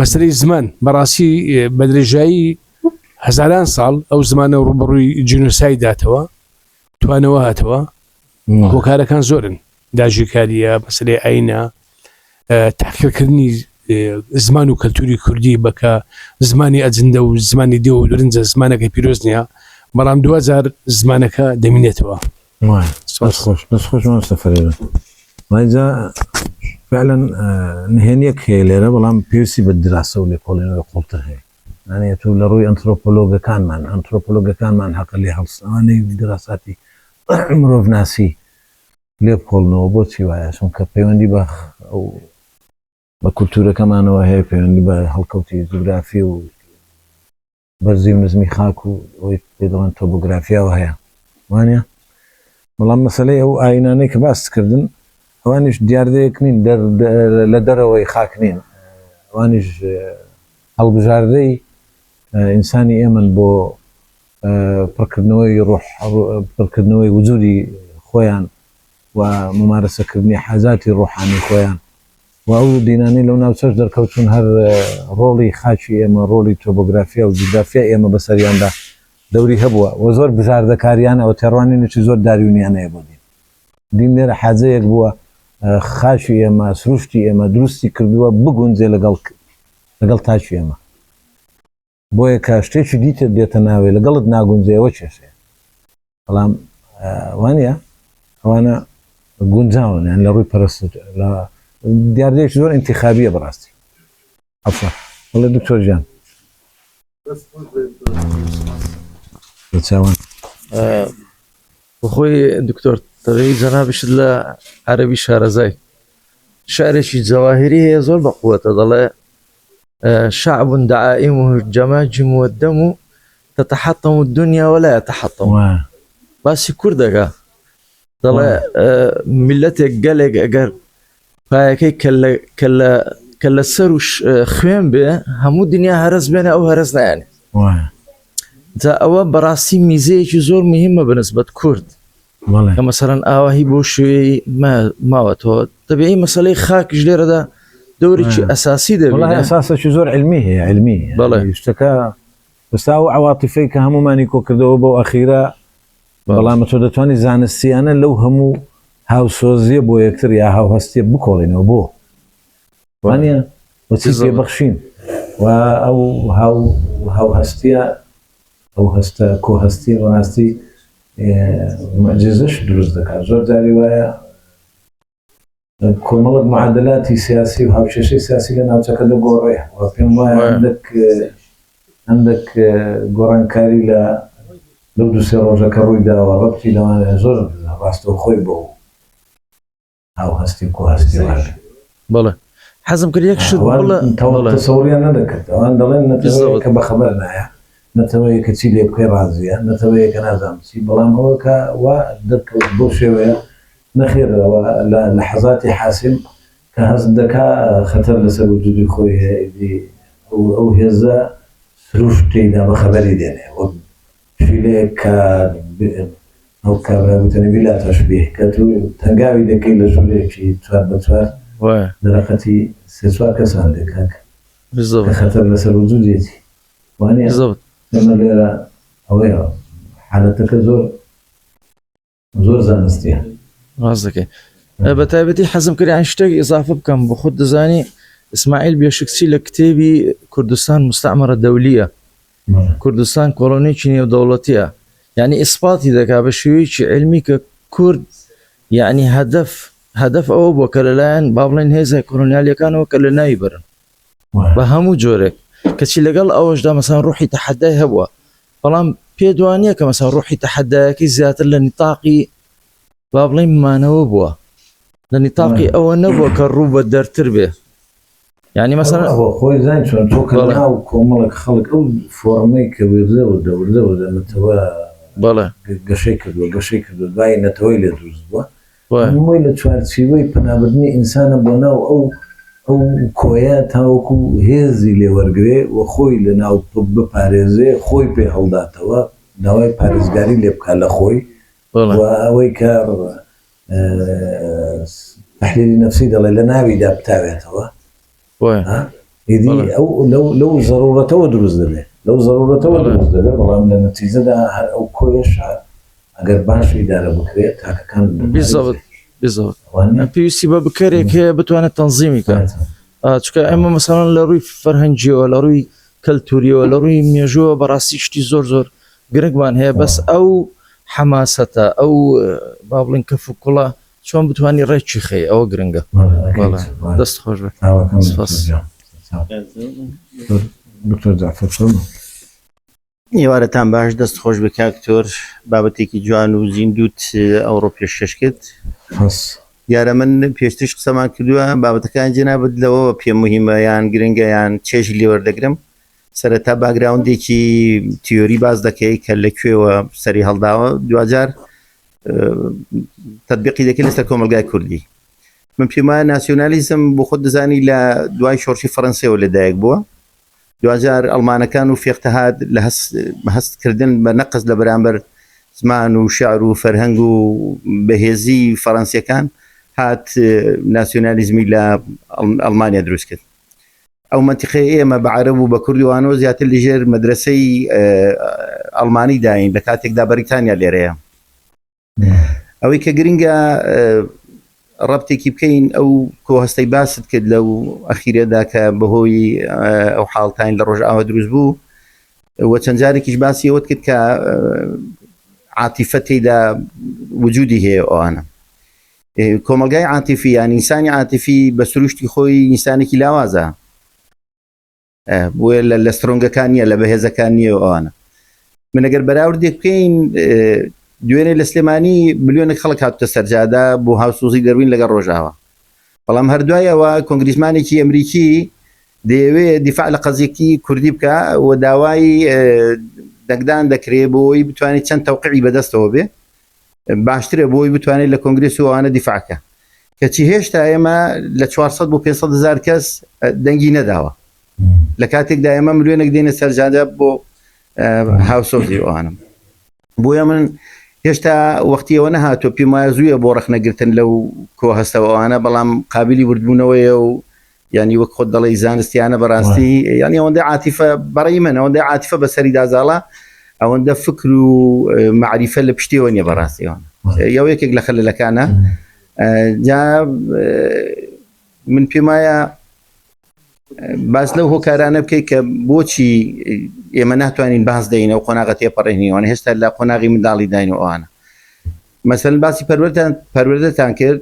مەسلەی زمان بەڕاستی بە درێژایی هەزاران ساڵ ئەو زمانە ڕوبڕووی جنوسای داتەوە توانەوە هاتەوە هۆکارەکان زۆرن داژکاریە مەسلەی ئاینە تاقیکردنی زمان و کەلتوری کوردی بەکە زمانی ئەجندە و زمانی دێ و درنجە زمانەکە پیرۆز نییە بەڵام دوجار زمانەکە دەمینێتەوە خۆشمانسەفرێنجا فعلەن نهێنیەک هەیە لێرە بەڵام پێویستی بە دراسە و لێکۆڵێنەوە قوڵتر هەیە نانێت و لە ڕووی ئەنترۆپۆلۆگەکانمان، ئەنترۆپۆلۆگەکانمان هەقە لێ هەڵسنەوانەی دیراساتی مرۆڤناسی لێ بکۆڵنەوە، بۆچی وایە؟ چونکە پەیوەندی بە بە کولتوورەکەمانەوە هەیە، پەیوەندی بە هەڵکەوتی جوگرافی و بەرزی و نزمی خاک و ئەوەی پێ دەڵێن تۆبۆگرافیاوە هەیە وانە بەڵام مەسلەی ئەو ئاینانەی کە باست کردن ئەوانیش دیاردەیەک نین لە دەرەوەی خاک نین ئەوانیش هەڵبژاردەی ئینسانی ئێمەن بۆ پڕکردنەوەی ڕۆح، پڕکردنەوەی وجودی خۆیان و مومارەسەکردنی حاجاتی ڕۆحانی خۆیان و ئەو دینانەی لەو ناوچەش دەرکەوتوون هەر ڕۆڵی خاکی ئێمە، ڕۆڵی تۆبۆگرافیا و جوگرافیای ئێمە بەسەریاندا دەوری هەبووە و زۆر بژاردەکاریانە و تێڕوانینێکی زۆر داروینیانەیە بۆ دین. بینەر حاجەیەک بووە خاکی ئێمە سروشتی ئێمە دروستی کردووە بگونجێ لەگەڵ لەگەڵ تاکی ئێمە بۆیە کە شتێکی دیتر دێتە ناوێ لەگەڵت ناگونجێ ئەوە کێشەیە بەڵام وانە ئەوانە گونجاون یان لە ڕووی پرست لە دیاردەیەکی زۆر انتخابیە بەڕاستی عەفوە بەڵێ دکتۆر گیان چاوان خۆی دکتۆر تەوی جەنابشت لە عەربی شارەزای شارێکی جەواهری هەیە زۆر بە قووەتە دەڵێ شعب دعائم و جەماجم و دەم و تتحطم و دنیا ولا تحطم باسی کوردەکە دەڵێ میلەتێک گەلێک ئەگەر پایەکەی کە لە سەر و خوێن بێ هەموو دنیا هەرس بێنە ئەو هەرس نایانێ جا ئەوە بەڕاستی میزەیەکی زۆر مهمە بەنسبەت کورد کە مەسەرەن ئاواهی بۆ شوێی ماوە تۆ دەبێی مەسلەی خاکش لێرەدا دەورێکی ئەساسی دەبڵێ ئەساسێکی زۆر علمی هەیە علمی بڵێ شتەکە ئێستا ئەو عەواتیفەی کە هەموومانی کۆکردەوە بەو ئەخیرە بەڵام تۆ دەتوانانی زانستیانە لەو هەموو هاوسۆزیە بۆ یەکتر یا هاوهستیە بکۆڵینەوە بۆ وانە وەچی زێ بەخشین و ئەو هاو هاوهستیە ئەو هەستە کۆهستی ڕاستی معجززەش دروست دەکات زۆر جاری وایە کۆمەڵک معادلاتی سیاسی و هاوکێشەی سیاسی لە ناوچەکە دەگۆڕێ و پێم وایە هەندێک هەندێک گۆڕانکاری لە لەو دوو سێ ڕۆژەکە ڕووی داوە ڕەتی لەوانە زۆر ڕاستەوە خۆی بۆ ئەو هەستی کو هەستی بڵێ حەزم کرد یەک شت بڵێ تەسەوریان نەدەکرد ئەوان دەڵێن نەتەوەیەکە بەخەبەر نایە نەتەوەیە کە چی لێ بکەی ڕازیە، نەتەوەیە کە نازانم چی، بەڵام ئەوە کە وا دەرکەوت بەو شێوەیە، نەخێر ئەوە لە لەحەزاتی حاسم کە هەست دەکا خەتەر لەسەر وجودی خۆی هەیە ئیدی ئەو ئەو هێزە سروشت تێیدا بە خەبەری دێنێ وەک پشیلەیەک کە ئەو کابرا گوتەنی بلا تشبیه کە تو تەنگاوی دەکەی لە ژورێکی چوار بە چوار دەرەقەتی سێ چوار کەسان دەکا کە خەتەر لەسەر وجودیەتی. وانیە زۆر ئێمە لێرە ئەوەیە حالەتەکە زۆر زۆر زانستیە ڕاست دەکەی بە تایبەتی حەزم کرد ئەن شتێک ئضافە بکەم بۆ خود دەزانی ئیسماعیل بێشکچی لە کتێبی کوردستان مستعمەرە دەولیە کوردستان کۆڵۆنێکی نێودەوڵەتیە یعنی ئیسپاتی دەکا بە شێوەیەکی علمی کە کورد یعنی هەدەف هەدەف ئەوە بۆ کە لەلایەن با بڵێن هێزە کۆلۆنیالیەکانەوە کە لە ناوی بەرن بە هەموو جۆرێک کەچی لەگەڵ ئەوەشدا مەسان ڕوحی تەحەدای هەبووە بەڵام پێ دوانە کە مەسا ڕوحی تەحەدایەکەی زیاتر لە نیتاقی با بڵێ مانەوە بووە لە نیتاقی ئەوە نەبووە کە ڕوو بە دەرتر بێ ینی مەسەر خۆی زان چۆن تۆ کە ناو کۆمەڵک خەڵک ئەو فۆرمەی کە وێزە و دەوردە و دەمەتەوە بەڵێ گەشەی کردووە گەشەی کردو دوای نەتەوەی لێ دروست بووە نمووی لە چوارچیوەی پەنابردنی ئینسانە بۆ ناو ئەو ئەو کۆیە تاوەکو هێزی لێ وەرگرێ و خۆی لە ناو بپارێزێ، خۆی پێ هەڵداتەوە، داوای پارێزگاری لێ بکا لە خۆی و ئەوەی کە تەحلیلی نەفسی دەڵێ لە ناویدا بتاوێتەوە. ئیدی ئەو لەو زەرورەتەوە دروست دەبێت لەو زەرورەتەوە دروست دەبێت بەڵام لە نەتیجەدا هەر ئەو کۆیەشە ئەگەر باش ئیدارە بکرێت تاکەکان پێویستی بە بکەرێک هەیە بتوانێت تەنزیمی کات چکە ئەمە مەسەڵەن لە ڕووی فەرهەنگیەوە لە ڕووی کەلتوریەوە لە ڕووی مێژووە بەڕاستی شتی زۆر زۆر گرنگمان هەیە بەس ئەو حەماسەتە ئەو با بڵین کەف و کوڵە چۆن بتوانی ڕێکی خەی ئەوە گرنگە دەست خۆش بێت دکتۆر جعفر فەرمو ئێوارەتان باش دەست خۆش بە کاکتۆر بابەتێکی جوان و زیندوت ئەوڕۆ پێشکەش کرد دیارە من پێشتش قسەمان کردووە بابەتەکان جێنابەت لەوەوە پێم مهمەیان گرنگەیان چێژ لێوەردەگرم سەرەتا باگراوندێکی تیۆری باز دەکەی کە لە کوێوە سەری هەڵداوە دوجار تطببیقی دەکەی لەسەر کۆمەلگای کوردی من پێما ناسیۆنالیزم بۆ خۆ دەزانی لە دوای شۆرشی فەرەنسیەوە لەدایک بووە دوجار ئەلمانەکان و فێختەهات لە هەستکردن بە نەقز لە بەرامبەر زمان و شعر و فەرهەنگ و بەهێزی فەرەنسیەکان هات ناسیۆنالیزمی لە ئەلمانیا دروست کرد ئەو مەنتیقەی ئێمە بە عەرەب و بە کورد و ئانۆ زیاتر لژێر مەدرەسەی ئەڵمانی داین لە کاتێکدا بەریتانیا لێرەیە. ئەوەی کە گرنگە ڕەبتێکی بکەین ئەو کۆهەستەی باست کرد لەو ئەخیرەدا کە بەهۆی ئەو حاڵتین لە ڕۆژئاوە دروست بوو و چەند جارێکیش باسی ئەوەت کرد کە عاتیفە تێدا وجودی هەیە ئەوانە کۆمەڵگای عاتیفی یان ئینسانی عاتیفی بە سروشتی خۆی ئینسانێکی لاوازە بۆیە لە لە سترۆنگەکان نیە لە بەهێزەکان نیە ئەوانە منەگەر بەراوردێک بکەین دوێنێ لە سلێمانی ملیۆنە خەڵک هاتە سەرجادا بۆ هاوسۆزی دەروین لەگەڵ ڕۆژاوە بەڵام هەردوایەوە کۆنگریزمانێکی ئەمریکی دەیەوێ دیفاع لە قەزیەکی کوردی بکە و داوای دەنگدان دەکرێ بۆی بتوانێت چەند تەوقعی بەدەستەوە بێ باشترە بۆی بتوانێت لە کۆنگرێس و ئەوانە دیفاعکە کەچی هێشتا ئێمە لە 400 بۆ 500 هزار کەس دەنگی نەداوە لە کاتێکدا ئێمە ملیۆنێک دێنە سەرجادە بۆ هاوسۆزی ئەوانم بۆیە من هێشتا وەختیەوە نەهاتۆ پێمایە زووە بۆ ڕخنەگرتن لەو کۆ هەستەوەوانە بەڵام قابلی وردبوونەوەیە و یانی وەک خۆت دەڵی زانستیانە بەڕاستی ینی ئەوەندە عاتیفە بەڕی من ئەوەندە عاتیفە بەسەری دازاڵە ئەوەندە فکر و معریفە لە پشتیەوە نیە بەڕاستیەوە یا یەکێک لە خەلەکانە جا من پێمایە باس لەو هۆکارانە بکەیت کە بۆچی ئێمە ناتوانین باز دەین ئەو قۆناغە تێپەڕێنیوان هێشتا لە قۆناغی منداڵی داین و ئەوانە مەسەن باسی پەروەتان پەروەدەتان کرد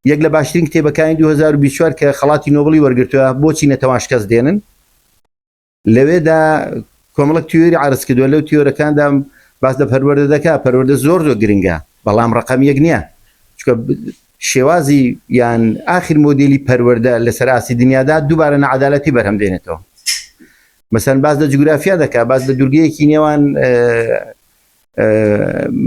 یەک لە باشترین کتێبەکانی دوو هەزار و بیست و چوار کە خەڵاتی نۆبڵی وەرگرتووە بۆچی نەتەوان شکەست دێنن لەوێدا کۆمەڵک تیۆری عرض کردووە لەو تیۆرەکاندا باس لە پەروەردە دەکا پەروەردە زۆر زۆر گرنگە بەڵام ڕقم یەک نییە چکە شێوازی یان ئاخر مۆدیلی پەروەەردە لەسەر ئاسی دنیادا دووبارە نەعادالەتی بەرهەم دێنێتەوە مەسەن باز لە جوگرافیا دەکا باز لە دوورگەیەکی نێوان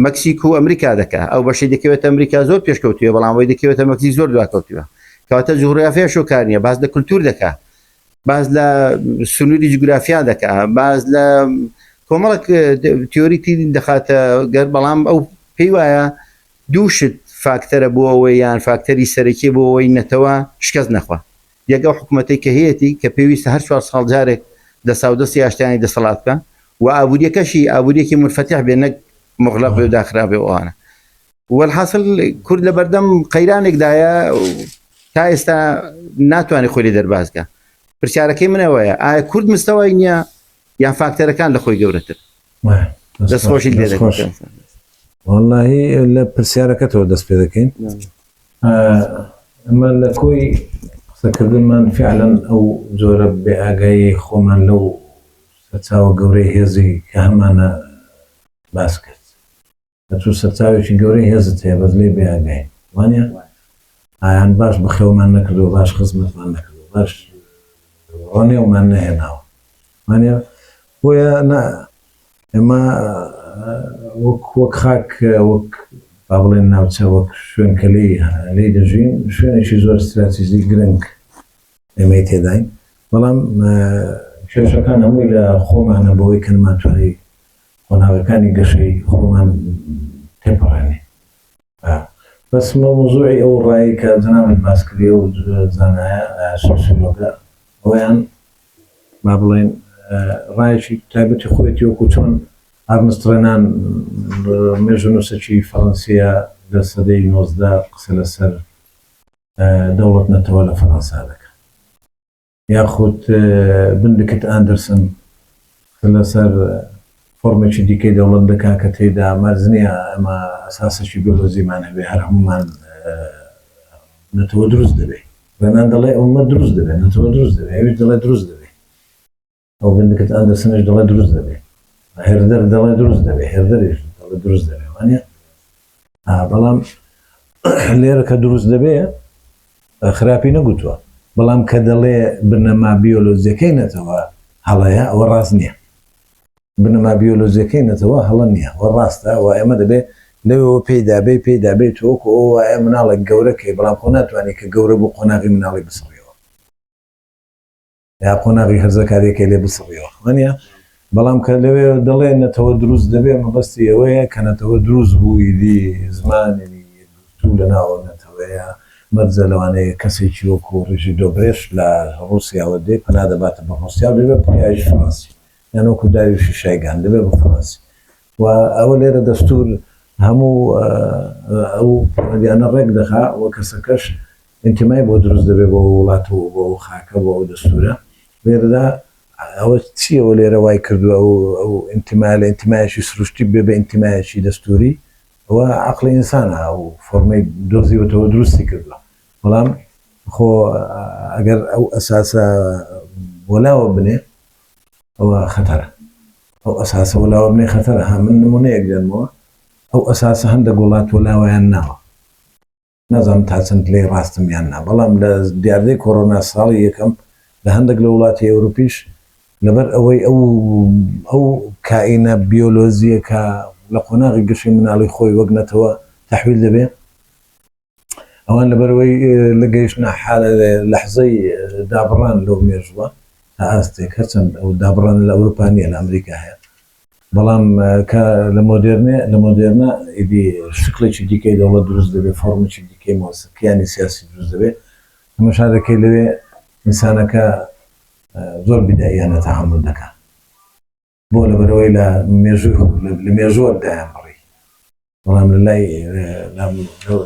مەکسیک و ئەمریکا دەکە ئەو بەشی دەکەوێت ئەمریکا زۆر پێشکەوتوە بەڵام وی دەکەوێتە مەکسی زۆر دواکەوتوە کەواتە جوغرافیا شۆکانە باز لە کولتور دەکە باز لە سنووری جوگرافیا دەکە باز لە کۆمەڵک تیۆری تری دەخاتە گەر بەڵام ئەو پێی وایە دووشت فاکتەرە بۆ ئەوەی یان فاکتەری سەرەکی بۆ ئەوەی نەتەوە شکست نەخوا یەک ئەو حکومەتەی کە هەیەتی کە پێویستە هەر چوار ساڵ جارێک دەساودەست یا شتانی دەسەڵات بکا و ئابووریەکەشی ئابووریەکی منفتح بێ نەک مغلق بێ و داخرا بێ و ئەوانە وەلحاسل کورد لە بەردەم قەیرانێک دایە تا ئێستا ناتوانێت خۆی لێ دەرباز کا پرسیارەکەی من ئەوەیە ئایا کورد مستەوای نییە یان فاکتەرەکان لە خۆی گەورەتر دەستخۆشی لێ دەخۆش واللهی لە پرسیارەکەتەوە دەست پێ دەکەین ئەمە لە کۆی قسەکردنمان فعلەن ئەو جۆرە بێ ئاگایی خۆمان لەو سەرچاوە گەورەی هێزی کە هەمانە باس کرد ئەتو سەرچاوێکی گەورەی هێزت هەیە بەس لێی بەیان گەین وانیە ئایان باش بەخێومان نەکردو باش خزمەتمان نەکردو باش ڕۆنێومان نەهێناوە وانە بۆیە نا ئێمە وەک وەک خاک وەک با بڵێن ناوچە وەک شوێن کە لی لی دەژین شوێنێکی زۆر استراتیزی گرنگ ئێمەی تێداین بەڵام کێشەکان هەمووی لە خۆمانە بەوەی کەنمانتوانی قۆناغەکانی گەشەی خۆمان تێپەڕێنێ ئا بەس مەوزوعی ئەو ڕای کە جەنابت باس کردی ئەو زانایە سۆسیۆلۆگە ئەویان با بڵێن ڕایەکی تایبەتی خۆێتی وەکو چۆن ئارمستڕێنان مێژونووسەکی فەڕەنسیە لە سەدەی نۆزدە قسە لەسەر دەوڵەت نەتەوە لە فەڕەنسا دەکە یاخود بندکت ئاندرسن کە لەسەر فۆرمێکی دیکەی دەوڵەت دەکا کە تێیدا مەرج نییە ئەمە ئەساسێکی بیۆلۆجیمان هەبێ هەر هەموومان نەتەوە دروست دەبێ. رێنان دەڵێ ئوممەت دروست دەبێ، نەتەوە دروست دەبێ، ئەویش دەڵێ دروست دەبێ. ڕۆبن دکت ئەندرسنیش دەڵێ دروست دەبێ هێردەر دەڵێ دروست دەبێ هێردەریش دەڵێ دروست دەبێ وانە بەڵام لێرە کە دروست دەبێ خراپی نەگوتووە بەڵام کە دەڵێ بنەما بیۆلۆزیەکەی نەتەوە هەڵەیە ئەوە ڕاست نییە بنەما بیۆلۆزیەکەی نەتەوە هەڵە نییە وە ڕاستە و ئێمە دەبێ لەوەوە پێیدابێ پێیدابێت تۆک ئەو وایە مناڵێک گەورەکەی بەڵام خۆ ناتوانانی کە گەورە بوو قۆناغی مناڵی بسڕیەوە یا قۆناغی هەرزەکاریەکەی لێ بسڕیەوە خوانە بەڵام کە لەوێ دەڵێ نەتەوە دروست دەبێ مەبەستی ئەوەیە کە نەتەوە دروست بووی دی زمانی تو لە ناوە نەتەوەیە مەرجە لەوانەیە کەسێکی وەکو ڕژی دۆبرێش لە ڕوسیاوە دێ پەنا دەباتە بە ڕوسیا دەبێ پایش فڕەنسی یانۆکو داویشی شایگان دەبێ بە فڕەنسی و ئەوە لێرە دەستوور هەموو ئەو پەیوەندیانە ڕێک دەخا و کەسەکەش ئینتیمای بۆ دروست دەبێت بۆ ئەو وڵات و بۆ ئەو خاکە بۆ ئەو دەستوورە لێرەدا ئەوە چی ئەوە لێرە وای کردووە ئەو ئەو ئینتیمای لە ئینتیمایەکی سروشتی بێ بە ئینتیمایەکی دەستووری و عەقڵی ئینسان ئەو فۆرمەی دۆزیوەتەوە دروستی کردووە بەڵام خۆ ئەگەر ئەو ئەساسە وەلاوە بنێ ئەوە خەتەرە ئەو ئەساسە وەلاوە بنێ خەتەرە ها من نمونەیەک دێنمەوە ئەو ئەساسە هەندەک وڵات وەلاوەیان ناوە نازانم تا چەند لێی ڕاستم یان نا بەڵام لە دیاردەی کۆرۆنا ساڵی یەکەم لە هەندەک لە وڵاتی ئەوروپیش لەبەر ئەوەی ئەو ئەو کائینە بیۆلۆزیەکە لە قۆناغی گەشەی مناڵی خۆی وەک نەتەوە تەحویل دەبێ ئەوان لەبەرەوەی لە گەیشتە لەحزەی دابڕان لەو مێژووە تا ئاستێک هەرچەند ئەو دابڕان لە ئەوروپانیە لە ئەمریکا هەیە بەڵام کە لە مۆدررنێ لە مۆدررنە ئیدی شکڵێکی دیکەی دەوڵەت دروست دەبێت فۆرمێکی دیکەی مۆسیقییانی سیاسی دروست دەبێت ئەمە شارەکەی لەوێ ئینسانەکە زۆر بداییانە تەعامل دەکات بۆ لەبەرەوەی لە مێژوو لە مێژووە دایان بڕی بەڵام لە لای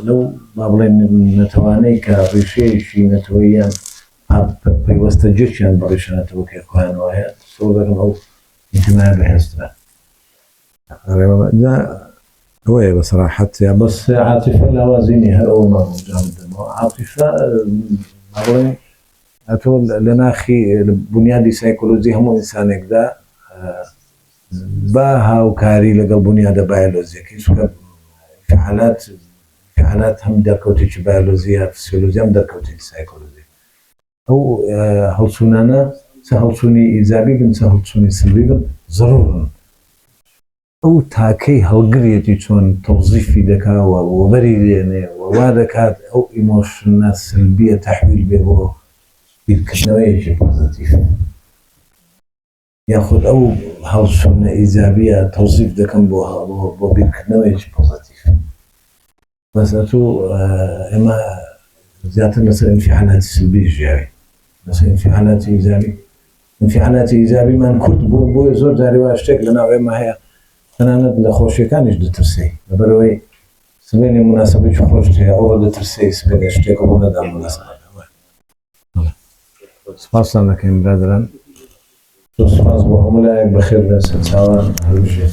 لەو با بڵێن نەتەوانەی کە ڕیشەیەکی نەتەوەیان پەیوەستە جێکیان بە ڕیشەنەتەوەکەی خۆیان وایە سۆ دەکەم ئەو ئینتمای بەهێزترە ئەوەیە بە سەراحەت یا بەس عاتیفە لاوازینی هەر ئەوە مامۆجان دەمەوە عاتیفە بڵێن ئەتۆ لە ناخی بونیادی سایکۆلۆجی هەموو ئینسانێکدا بە هاوکاری لەگەڵ بونیادە بایۆلۆجیەکەی چونکە ئینفعالات ئینفعالات هەم دەرکەوتێکی بایۆلۆجی یا فسیۆلۆجی هەم دەرکەوتێکی سایکۆلۆجی ئەو هەڵچوونانە چ هەڵچوونی ئیجابی بن چ هەڵچوونی سلبی بن ضرورن ئەو تاکەی هەڵگریەتی چۆن تەوزیفی دەکا و وەبەری دێنێ و وا دەکات ئەو ئیمۆشنە سەلبیە تەحویل بێ بۆ بیرکردنەوەیەکی پۆزەتیف یاخود ئەو هەڵچونە ئیجابیە تەوزیف دەکەم بۆ بیرکردنەوەیەکی پۆزەتیف. بەس ئەتوو ئێمە زیاتر لەسەر ئینفعالاتی سلبی ژیاوی لەسەر ئینفعالاتی ئیجابی ئینفعالاتی ئیجابیمان کورت بوو بۆی زۆر جاری وا شتێک لە ناو ئێمە هەیە تەنانەت لە خۆشیەکانیش دەترسی لەبەرەوەی سبێنێ مناسبەی خۆشت هەیە ئەوە دەترسی سبێنێ شتێک ڕوو نەدا مناسبەکە سپاستان دەکەین برادەران. زۆر سپاس بۆ هەموو لایەک بەخێر بێن سەرچاوان هەربژێن.